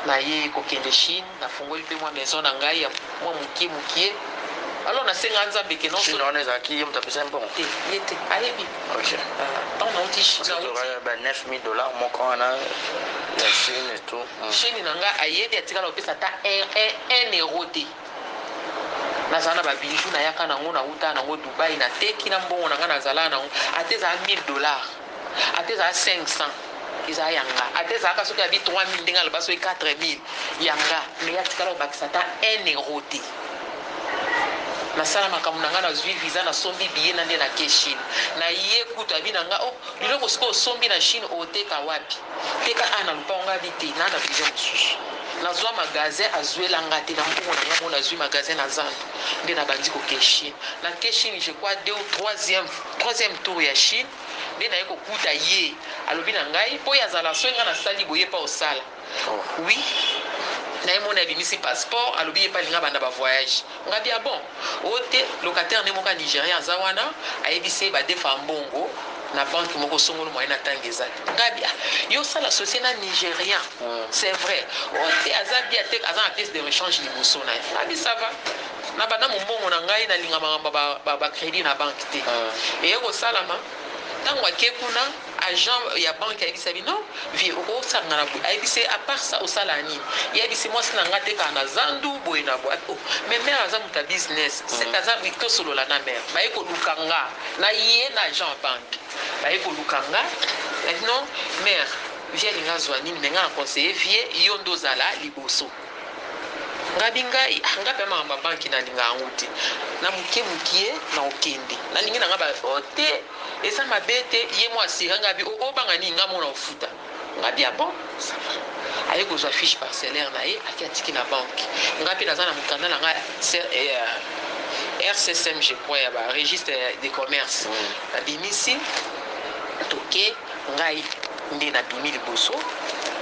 naye kokende chine Nafungoli pe mwa maison na ngai ya mwa mukie mukie alors nasenga Nzambe ke non solo wana ezalaki ye moto apesaki mbongo te ye te ayebi okay. uh, tant nauti ba 9000 dollars moko wana ya chine et tout mm. chine na ngai ayebi atikala kopesa ata 1 euro te nazala na babiju nayaka nango nauta nango dubai nateki na mbongo na ngai nazalaka nango ata ezala 1000 dollars ata ezala 500 eza ya nga ata ezalaka soki abi 3000 ndenge aloba soki 4000 ya nga mais atikala kobakisa ata 1 euro te nasala makambo na nga nazwi visa nasombi biye na nde na ke chine na ye kutu abi na nga oh biloko sikoyo osombi na chine oteka wapi teka a na lupango nga abi te na na vision mosusu nazwa magasin azwela nga te na mbongo na nga mona azwi magasin na zando nde nabandi koke chine na ke chine je crois deux ou troisième Troisième tour ya chine nde naye ko kuta ye alobi na ngai po ye azala soki ngai na sali boye ye pe ako sala oui naye moni abimisi passeport alobi ye pe alingi abanda ba voyage ngai bi ah bon o te locataire nde moko ya nigerian aza wana ayebisi ye ba defa mbongo na banque moko songolo moyen na tanga eza te ngai bi ah yo osala societe na nigerian c'est vrai o te aza bien te aza na pièce de rechange liboso naye ngai bi ça va Na banda mombongo na ngai na linga makambo ya ba credit na banque te eye ko salama tango ake kuna agent ya banque ayebisa bi non vie oko sanga na boye ayebisa ye a part ça osala ya nini ye ayebisi mwasi na ngai atekaka na zandu boye na boye oh mais mère aza moto ya business seka aza bi to solola na mère baye ko luka nga na ye na agent ya banque baye ko luka nga na bino mère vie alinga azua nini mais nga na conseille vie yo nde ozala liboso. Ngabi ngai ah nga pema makambo ya banki na linga yango te na mukie mukie na kokende na lingi na nga ba oh te eza mabe te ye mo asira ngabi oh obanga nini nga mo na kofuta ngabi ah bon ça va aye kozwa fiche parcellaire na ye ake atiki na banki nga mpe naza na mokanda na nga rccm je crois ya ba registre de commerce mm. babimisi toke ngai Nde na bimi liboso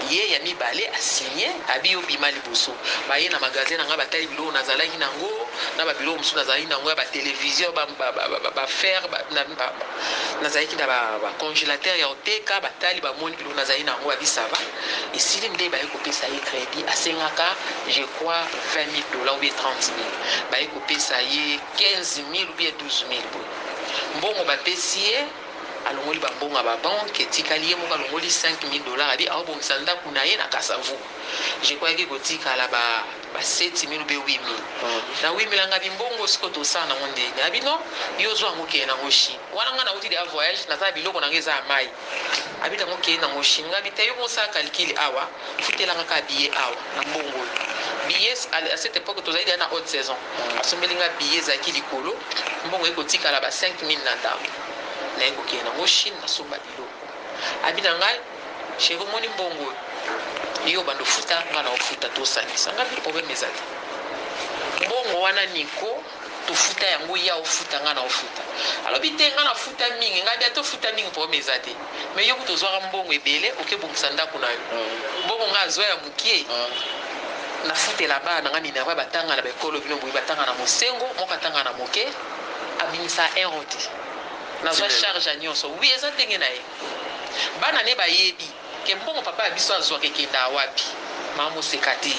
ye ya mibale a signe abi yo bima liboso baye na magasin na nga batali biloko na zalaki na ngo na ba biloko mosusu na zalaki na ngo ya ba television ba ba ba ba ba fer ba na ba na zalaki na ba ba congelateur ya oteka batali ba moni biloko na zalaki na ngo abi ça va esili nde baye kopesa ye credit asengaka je crois 20000 dollars ou bien 30000 baye kopesa ye 15000 ou bien 12000 boye mbongo bapesi ye Alongoli ba mbongo ya ba banques, etikali ye moko alongoli 5000 dollars, adi aobongisa ndaku na ye na Kasa Vu. J'ecroyaki ekotikala ba 7000 ou bien 8000. Na 8000 angabi mbongo, sikoyo tosala na ngo ndeni? Abi non, yo zua yango kende na ngo Chine. Wana nga nawuti dejà voyage, naza na biloko na nga eza ya mayi. Abi na ngo kende na ngo Chine. Ngabi te, yo moko sala calcul awa, futela nga kaka billet awa, na mbongo oyo. Billets, à à cette epoque tozali dejà na haute saison. Asombeli nga billet, ezalaki likolo, mbongo ekotikala ba 5000 na ndaku. Naye kokende na ngo chine na somba biloko abi na ngai sheri omoni mbongo oyo yo bando futa nga na ofuta tosangisa nga bi problème eza te mbongo wana niko tofuta yango ya ofuta nga na ofuta alobi te nga nafuta mingi ngai bia tofuta mingi problème eza te me yo kutu ozwaka mbongo ebele okebongisa ndako na yo mm. mbongo nga azwa ya mokie mm. nafutela bana na nga minerva batanga na baekolo bino boye batanga na mosengo moko atanga na moke abimisa erro te nazwa charge ya nyonso wi eza ndenge na ye bana ne bayebi ke mbongo papa ya biso azwaka ekendaka wapi mama moseka te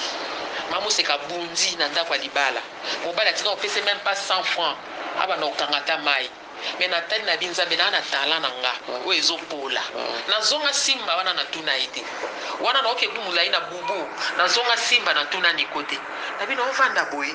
mama moseka abundi na ndako ya libala mobali atika kopese meme pas 100 franc abanda kokanga ata mai me natali na binzambe naa na talan na nga mm. oyo ezopola mm. nazonga simba wana natuna ye te wana naokebu molai na bubu nazonga simba natuna niko te na bino ovanda boye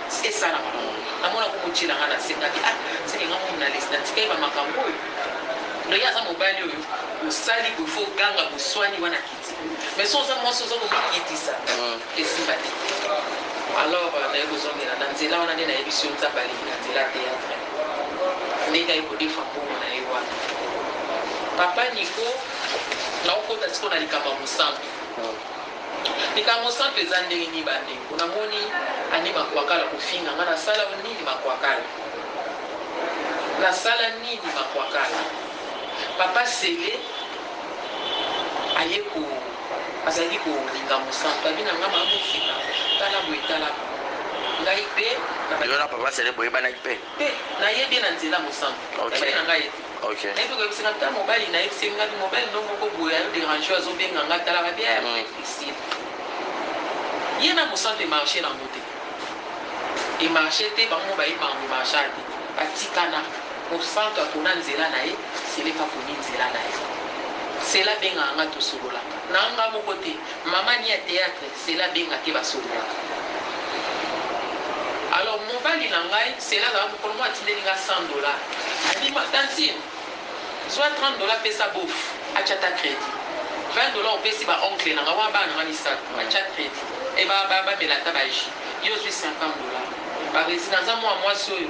Esi esala mbongo namona ko kotiela nga na sengaki ah seke nga moko na lesi na tikaki ba makambo oyo donc ye aza mobali oyo osali boye faut oganga boswani wana kiti mais soki oza mwasi oza komikitisa esimba te alors naye kozongela na nzela wana nde nayebisi yo nzambe aleki na nzela ya theatre ndenge aye kodefa mbongo na ye wana papa Nico nao kota sikoyo na likambo ya mosantu. Likambo santu eza ndenge nini ba ndeko na moni annie makwakala kofinga nga na sala yo nini makwakala na sala nini makwakala papa cele aye ko azalaki ko linga mosantu abi na nga ma mosika tala boye tala boye ngai pe na ba Yo na papa cele boyebanaki pe? Te na ye bien na nzela mosantu na yebaki na nga ye te. Ok. Naye pe koyebisa nga ta mobali naye bise nga mobali no moko boye azo derange yo azo benga nga atalaka bien y'a vrai Christine ye na mosantu e marche nango te e marche te bango moko baye mango marcha te batikana mosantu apona nzela naye seleka aponi nzela naye sela abengaka nga tosololaka nanga moko te mama ni ya theatre Sela abenga te basololaka alors mobali na ngai sela azalaka mokolo moko atindeli nga 100 dollars alobi ma tantine zua 30 dollars pesa beauf atia ata credit 20 dollars opesi ba oncle na nga wana bana na nga misatu batia credit et ba ba bamela ata ba jus yo ozui 50 dollars ba resident naza mua muasi oyo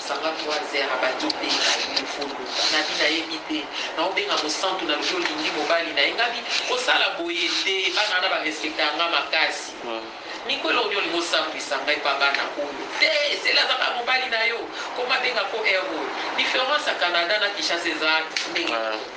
Kanga trois heures abandi obenga ye muvulu ngabi nayebi te nao benga mosantu nalobi olingi mobali naye ngabi kosala boye te bana wana ba respectaka nga makasi Nico eloko nini olingi osambwisa nga epa bana oyo te zela aza kaka mobali nayo koma benga ko heure oyo difference ya Canada na Kinshasa eza ndenge moko te.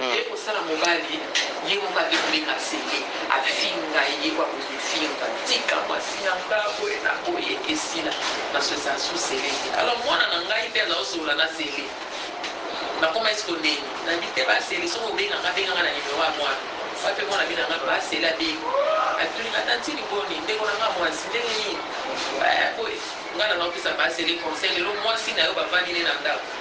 Ye kosala mobali ye moko adecouvrir Nsete afinga ye po akoki kofinga tika mwasi na nga boye na boye esila na so eza sous scelle te alors mwana na ngai pe aza kosolola na scelle na komais kondenga na bi te ba scelle soki obenga nga benga nga na numero ya mwana nga pe mwana bina nga ba scelle abengi atuni nga tantine boni ndeko na nga mwasi ndenge nini eh boye nga na nga kopesa ba scelle conseil lelo mwasi na yo bavandi ne na ndako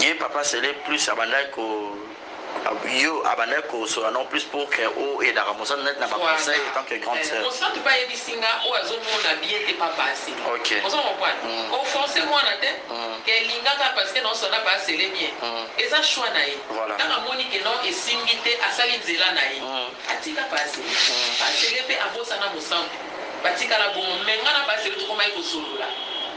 ye papa sele plus abandaki ko yo abandaki kosola non plus pour que o edaka mosantu neti na ba conseil en tant que grande eh, sœur mosantu pa yebisi nga oyo azomona bien te pa pasi ok ozo comprendre mm. ko forcer mwana te mm. ke lingaka parce que non sona pa sele bien mm. eza choix na ye voilà. tanga moni ke non esimbi te asali nzela na ye mm. atika pa sele mm. pa sele pe abosana mosantu batikala bongo me nga na pa sele tokomaki kosolola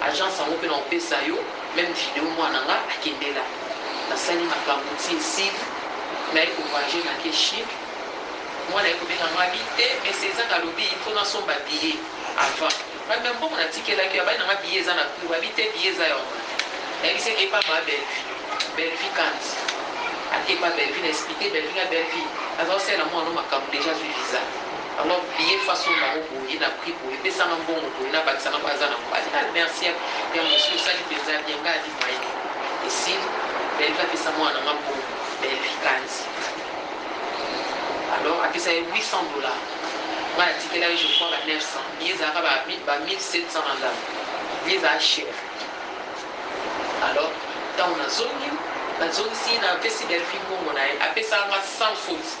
Agence yango pe nako pesa yo meme video mwana na nga akendela nasali makambu ti esili naye ko voyager nake chine mwana aye kobenga nga abi te mais cesar alobi il faut nasomba billet avant ngabi mais mbongo natikelaki yo abai nanga billet eza na prix abi te billet eza ya omata nayebisi ye epa ma bellevue bellevue kandy ake epa bellevue na explique bellevue nga bellevue aza osalela mwana no makambu dejà azui visa. Vraiment vieux façon bango boye na prix boye pesa nga mbongo boye na bakisa nga po aza na mobali ah merci ya mwasi osali penza bien nga adi mayele esili Bellevue apesa mwana na nga mbongo Bellevue kanzi alors apesa ye 800 dollars nga na tikela ye je crois ba 900 billet ezalaka ba 1700 na ndambo billet ezalaka cher alors ntango nazongi nazongisi napesi Bellevue mbongo na ye apesa nga 100 faute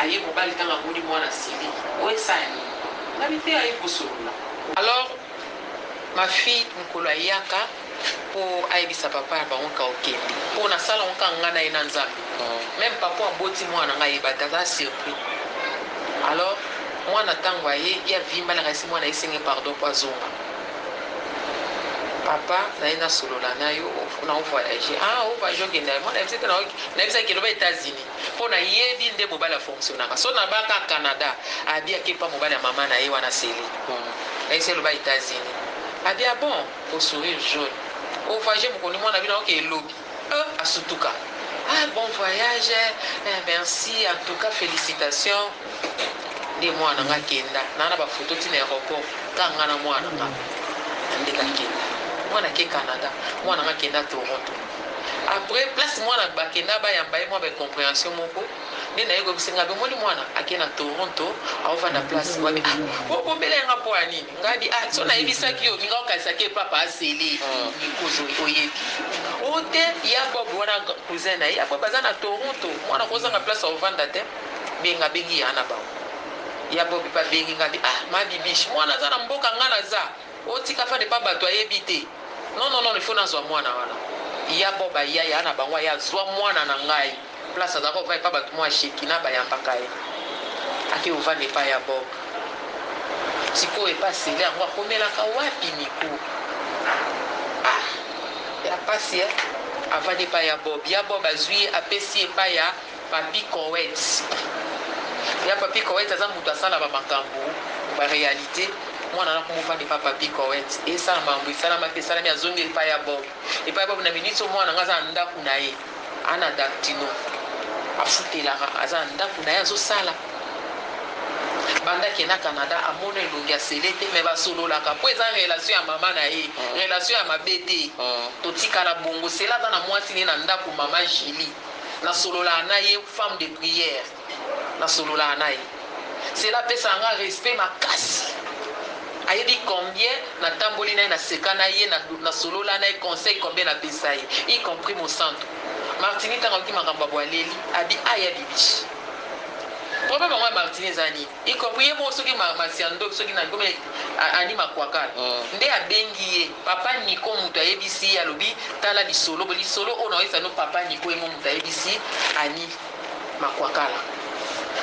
Aye mobali tango amoni mwana asiliki oyo esala nini nga mite aye kosolola. Alors ma fille mukolo ayaka po ayebisa papa na bango ka okende po na sala ngo kaka nga na ye na nzambe meme papa oyo aboti mwana nga ayebate aza surpris alors mwana tango aye ye avimba nakanisi mwana aye senge pardon po azonga. Papa naye na solola nayo na o voyage ah o voyage okenda ye mwana yebisaki na yebisaki eloba etats unis po na yebi nde mobali a fonctionaka so na ba ka canada abi ake epa mobali ya maman naye wana celi na yebisaki eloba etats unis abi ah bon o sourire jaune o voyage mokoni mwana bino aoke lobi Euh asutuka ah bon voyage eh merci en tout cas felicitation nde mwana nga kenda na na ba photo tina aeroport ka nga na mwana nga nde ka kenda mwana ke Canada mwana nga kenda Toronto après place mwana ba kenda ba yamba ye mwa ba comprehension moko nde naye koyebisa ngabi omoni mwana ake na Toronto aovanda place wapi ah po obombela ye nga po ya nini ngabi ah soki nayebisaki yo olinga okanisa ke papa azele nikozo oyebi o te ya bob wana cousin naye ya bob aza na Toronto mwana akozanga place aovanda te benga abengi ya na bango ya bob pe abengi ngabi ah ma bibiche mwana aza na mboka nga naza Oyo tika fally epa batu ayebi te non non non il faut nazua muana wana ya bob aya yaya na bango aya azua muana na ngai place azalaka ovanda epa batu mua shekina bayambaka ye akeyi ovanda epa ya bob sikoyo epa sele yango akomelaka wapi miko ah ya pasi eh avandi epa ya bob ya bob azui ye apesi epa ya Papy Koet ya Papy Koet aza mutu asala ba makambu ba realite mwana na kombo ovanda epa Papy Koet esala mambu esalamaki esalami azongi epa ya Bob epa ya Bob na minute oyo mwana nga aza na ndaku na ye a na Gactino afutelaka aza na ndaku na ye azosala banda ke na Canada amona elongi ya Cele te mais ba sololaka po eza relation ya mama na ye relation ya mabe te totikala bongo Cele aza na mwasi na ye na ndaku mama Julie nasololaka na ye femme de prière nasololaka na ye sela apesaka nga respect makasi ayebi combien natamboli na ye naseka na ye nasolola na ye conseil combien napesa ye y compris mosantu martini ntango ayoki makambo ya boaleli abi aya bibishi problème yango ya martini eza nini Y compris ye moko soki ma ma sœur ndoki soki nani comme a Annie makuakal nde abengi ye papa Nico mutu ayebisi ye alobi tala lisolo bo lisolo oyo naoyebisa bino papa Nico ye moko mutu ayebisi Annie makuakala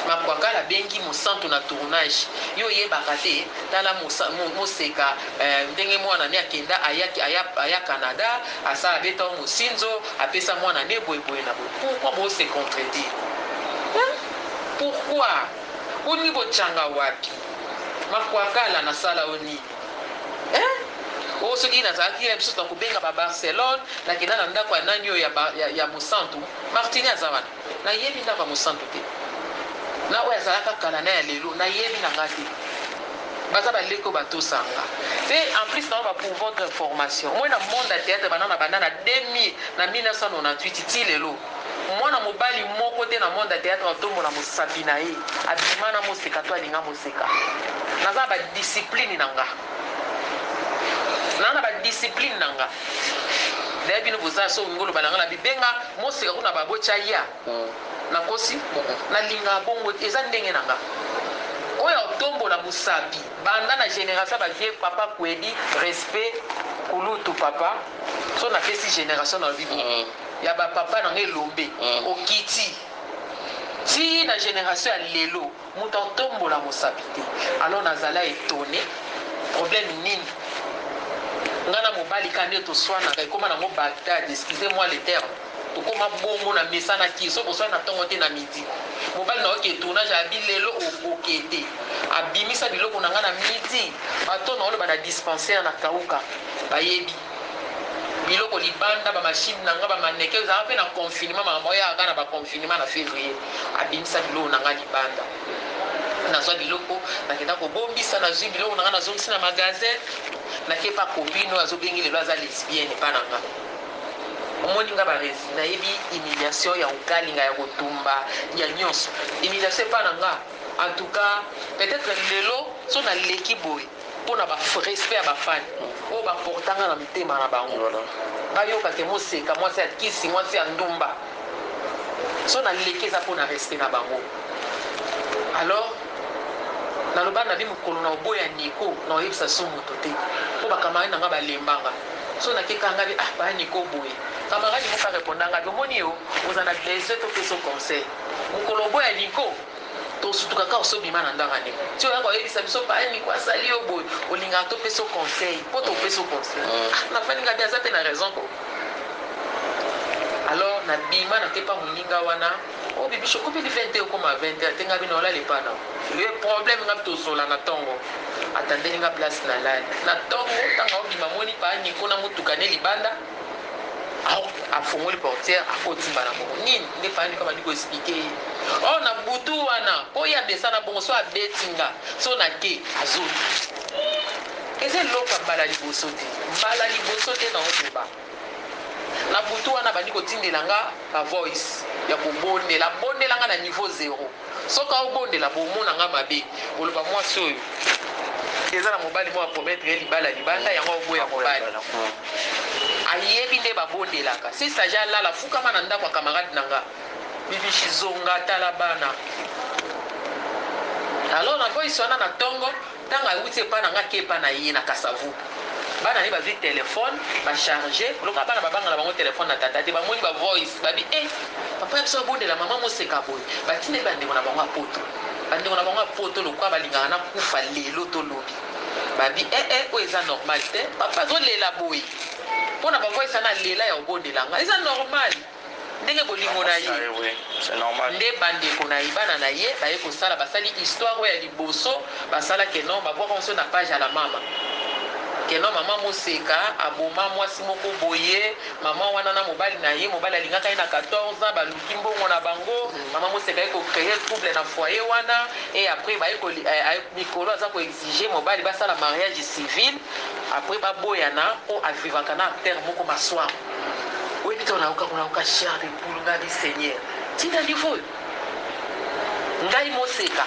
makuakala abengi mosantu na tournage yo oyebaka te tala mosa mo moseka eh, ndenge muana ne akenda ayaki aya aya Canada asala abeta o mosinzo apesa muana ne boye boye na boye pourquoi bo se contredire hein pourquoi Owuti kochanga wapi? Makwakala nasala yo nini eh? Oyo soki nazalaki ye biso nakobenga ba Barcelone nakenda na ndako ya nani oyo ya Mosantu Martini aza wana nayebi ndako ya Mosantu te na oyo azalaka kala na ya lelo nayebi na nga te baza ba leki oyo batosa nga te en plus na ba pouvoir d'information moi na monde ya theatre banda na banda na 2000 na 1998 ti lelo Mwana mobali moko te na monde ya theatre atombola mosapi na ye abima na moseka to alinga moseka. Naza na ba discipline na nga. Naza na ba discipline na nga. D'ailleurs bino boza soki olingi oloba na nga na bibenga moseka kuna ba boti aya. Nakosi? Na linga bongo te. Eza ndenge na nga. Oyo ya kotombola mosapi banda na generation ya ba vieux papa Kuedi respect kulutu papa soki napesi generation nalobi boye. ya ba papa na nga elombe okiti ti na generation ya lelo mutu atombola mosapi te alors na zala etonne problème nini nga na mobali ka nde toswanaka ekoma nango bagdad excusez moi le terme tokoma bongo na mesana ki soki oswani na tongo te na midi mobali na oke tournage abi lelo okoke te abimisa biloko na nga na midi bato na oloba na dispensaire na kauka bayebi biloko libanda ba machine na nga ba mannequin ezalaka pe na confinement makambo oyaka kaka na ba confinement na fevrier abimisa biloko na nga libanda nazwa biloko nakenda kobombisa nazwi biloko na nga nazongisi na magasin nake pa copine oyo azobengi lelo aza lesbienne epa na nga omoni nga barezi nayebi humiliation ya kokalinga ya kotumba ya nyonso humiliation epa na nga en tout cas peut-être lelo so naleki boye pona ba respect ya ba fan oyo ba porta nga na mutema na bango ba yoka ke moseka mwasi ya kisi mwasi ya ndumba soki na leki eza pona respect na bango alors na loba na bi mukolo na oboya Nico na oyebisa so moto te po ba camarade na nga ba lemba nga so na keka nga bi ah ba Nico boye camarade moko a reponda nga bi omoni yo oza na besoin to pesa yo conseil mukolo oboya Nico To sutuka kaka osi obima na ndanga ndeko ti oya ko yebisa biso paya nico asali yo boye olingaka to pesa yo conseil po to pesa yo conseil ah na fandi nga bien aza pe na raison ko alors na bima na kepa muninga wana oh bibiche okomi li 20 okoma 20 ate nga bino olala epa na ye problème nga to zola na tongo atandeli nga place na lali na tongo tanga obima moni paya nico na mutuka ne libanda Awa afongoli portière akoti mbala moko nini nde fandi kama niko explique ye or na butu wana po ye amesana bongo so abeti nga so na ke azoki eza eloko ya mbala liboso te mbala liboso te na oloba na butu wana abandi kotindela nga ba voice ya kobondela abondela nga na niveau zero Soki aobondela bomona nga mabe boloba mwasi oyo eza na mobali moko a promettre ye libala libanda yango aoboya mobali ayebi nde babondelaka si sage alala fukama na ndako ya camarade na nga bibishi zonga tala bana alors na voice wana na tongo Tango awuti epa na nga ake epa na ye na kasavubu bana na ye bazui telephone ba charge lokola bana ba bangala bango telephone na tata te ba moni ba voice ba bi eh papa ya biso abondela maman moseka boye ba tindeli ba ndeko na bango ya poto ba ndeko na bango ya poto lokola ba lingaka na kufa lelo to lobi ba bi eh eh oyo eza normal te papa azo lela boye pona ba voice wana alela ya obondela nga eza normal Ndenge bolingo na ye nde bandeko na ye, bana na ye, baye kosala, basali histoire oyo ya liboso basala que non babwaka yango soki na page ya la mama que non mama Moseka aboma mwasi moko boye, mama wana na mobali na ye, mobali alingaka ye na 14 ans, baluki mbongo na bango, mama Moseka aye ko creer trouble na foyer wana et après baye ko mikolo aza ko exiger mobali basala mariage civil après baboyana po a vivaka na acteur moko masuaku. Oyebi tango nayoka kuna yoka chair de poule nga bi seigneur ti na niveau oyo ngai moseka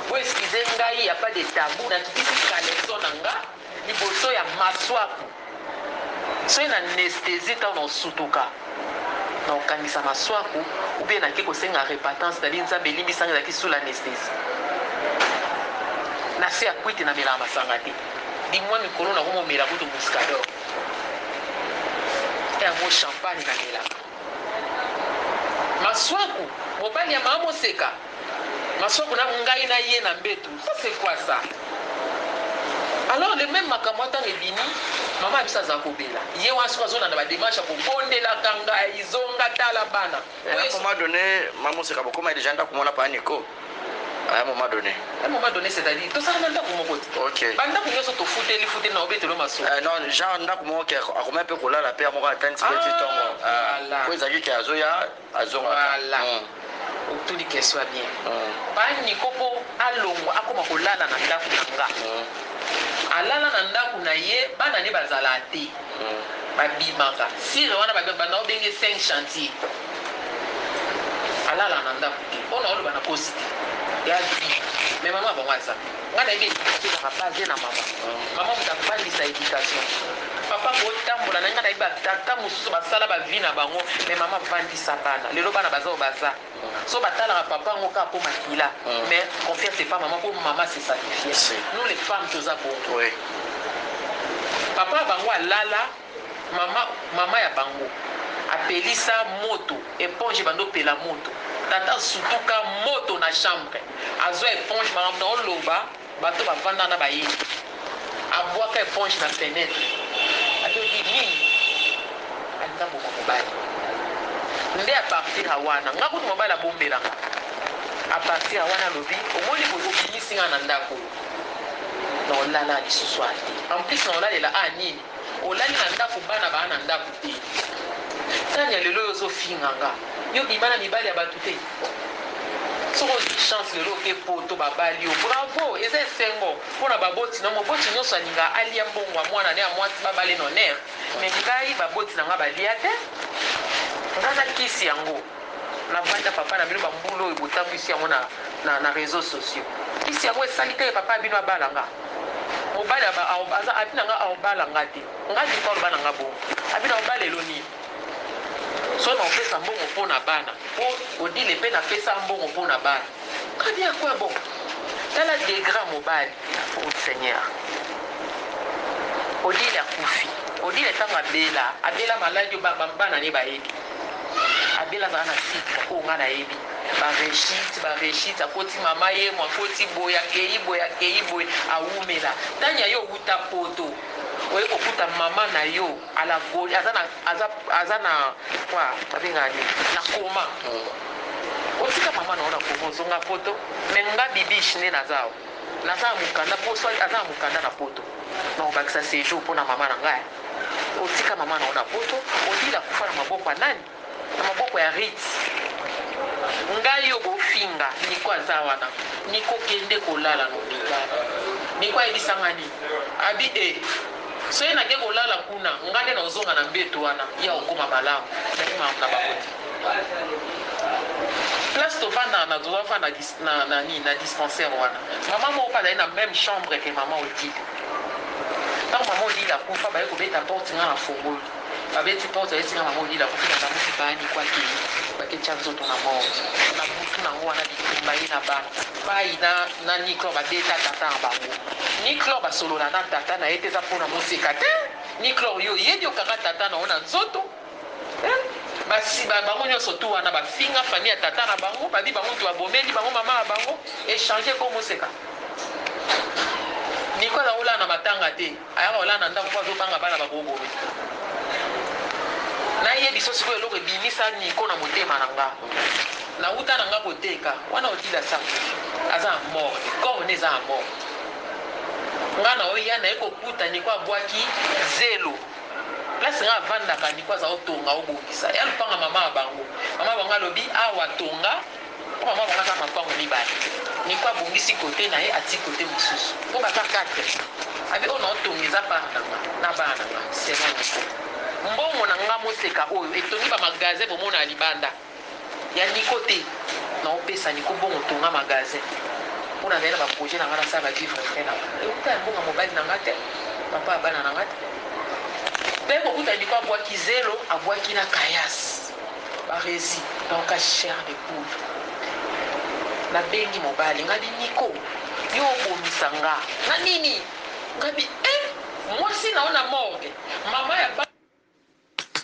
bo excuse ngai ya pas de tabou na kitisi caleçon na nga liboso ya masuaku soki na nesthesie tango na osutuka na okangisa masuaku ou bien na ke kosenga repatance na bi nzambe limbisa nga ezalaki sous la nesthesie na se ya kwiti na melaka masanga te di mwa mikolo na komo mela kutu muscador Yango champagne na melaka. Masuaku mobali ya mama moseka masuaku na ngai na ye na mbetu ça c'est quoi ça alors le même makambo ata ebimi mama ya biso aza kobela ye wana soki azolanda ba demarche ya kobondelaka ngai zonga tala bana Un moment donne ma moseka bokoma dejà ndaku mona pa Nico un moment donne. Un moment donne c'est à dire tozalaka na ndaku moko te ok ba ndaku nioso tofuteli futeli na obeteli yo masolo eh non genre ndaku moko ke akomaki pe kolala pe yango moko atangisi pe ti tongo po ezalaki ke azoya azongaka voilà otuni question ya bien pa Nico po alongwa akoma kolala na ndaku na nga alala na ndaku na ye bana ne bazalaka te. Abimaka sire wana ba banda ko benge cinq chantier alala na ndaku te oyo nazo loba na kosi te ya vie mais maman bango aza nga nayebi education ezaka base na maman maman mutu abandisa education papa ko tambola na nga nayebi ba tata mususu ba sala ba vie na bango mais maman avandisa bana lelo bana baza oyo baza Soki ba talaka papa yango kaka po makila mais confiance epa maman po maman se sacrifia nous les femmes toza bongo papa ya bango alala maman maman ya bango apelisa moto eponge ebanda opela moto tata sutuka moto na chambre azua eponge makambo na oloba Bato bavanda na bayebi. Abwaka eponge na fenetre. Alobi nini? Alinga boma mobali. Nde a partir ya wana, nga kutu mobali abombela nga. A partir ya wana alobi, omoni boye obimisi nga na ndako oyo, nakolala lisusu awa te. En plus nakolalela awa nini? Olali na ndaku bana baa na ndaku te tanya lelo yo ozo finga nga yo obima na mibali ya batu te soki ozui chance lelo oke poto babali yo bravo eza esengo pona baboti no moboti nioso alingaka alia mbongo ya muana ne ya muasi babala en honneur mais ngai baboti na nga balia te nga na kisi yango Na vanda papa na bino ba mbula oyo botambwisi yango na na reseaux sociaux kisi yango esali te papa na bino abala nga mobali aba aza abi na nga aobala nga te nga niko aloba na nga bongo abi na obala elo nini so na opesa mbongo mpo na bana mpo odile mpe na pesa mbongo mpo na bana très bien quoi bon tala degra mobali oh seigneur odile akufi odile ntango abela abela maladi bana ne bayebi Abel azala na sucre oyo nga nayebi ba rechit ba rechit akoti mama yemo akoti boye akeyi boye akeyi boye awumela tanya yo owuta poto oye kokuta mama nayo ala goli aza na aza aza na quoi babengaka nini na koma otika mama nayo na koma ozonga poto me nga bibiche nde naza awa naza ya mukanda po soit aza ya mukanda na poto nakobakisa sejour pona mama na nga Otika maman na yo na poto odila akufa na maboko ya nani? Na maboko ya Ritz? Ngai yo bofinga Nico aza wana Nico kende kolala na hopital Nico ayebisa ngai nini? Abi eh soki nake kolala kuna ngai nde nakozonga na mbetu wana ye akokoma malamu mais mamu na bango te place tovandaka na toza fanda na nini na dispensaire wana maman moko pe azali na meme chambre que maman Odile Tango maman Odile akufa baye kobeta porte nga na fongoli babeti porte bayebisi nga maman Odile akufi balamusi paya Nico akeyi bake tia nzoto na morgue na butu nango wana bitumba ye na bana bayi na na Niclor babeta tata na bango Niclor basolola na tata naye te eza pona moseka te Niclor yo oyebi okanga tata na yo na nzoto Hum basi ba bango nionso tout wana ba finga famille ya tata na bango babi bango mutu ba bomeli bango maman na bango echange kombo seka Nicole azo lala na matanga te ayaka kolala na ndaku po azo banga bana bako boma na ye biso sikoyo eloko ebimisa Nico na motema na nga na wuta na nga koteka wana odila sango aza na morgue corps ne eza na morgue nga na oya na ye kokuta Nico abwaki zelo place nga avandaka niko aza otonga obongisa ya lupanga mama ya bango mama bango alobi awa tonga po mama bango aza mapango mibale niko abongisi kote na ye ati kote mosusu po baza 4 abi oyo naotonga eza bana na nga na bana na nga sema niko mbongo na nga moseka oyo etongi bamagasin bomona ya libanda Ya Nico te nao pesa Nico mbongo tonga magasin pona naye na ba projet na nga na sala ba vivre frais na nga ewuta ya mbongo ya mobali na nga te papa ya bana na nga te pe kokuta Nico abuaki zelo abuaki na caias barezi nao ka chair de poule na bengi mobali nga bi Nico yo obomisa nga na nini nga bi eh mwasi nao na morgue maman ya bana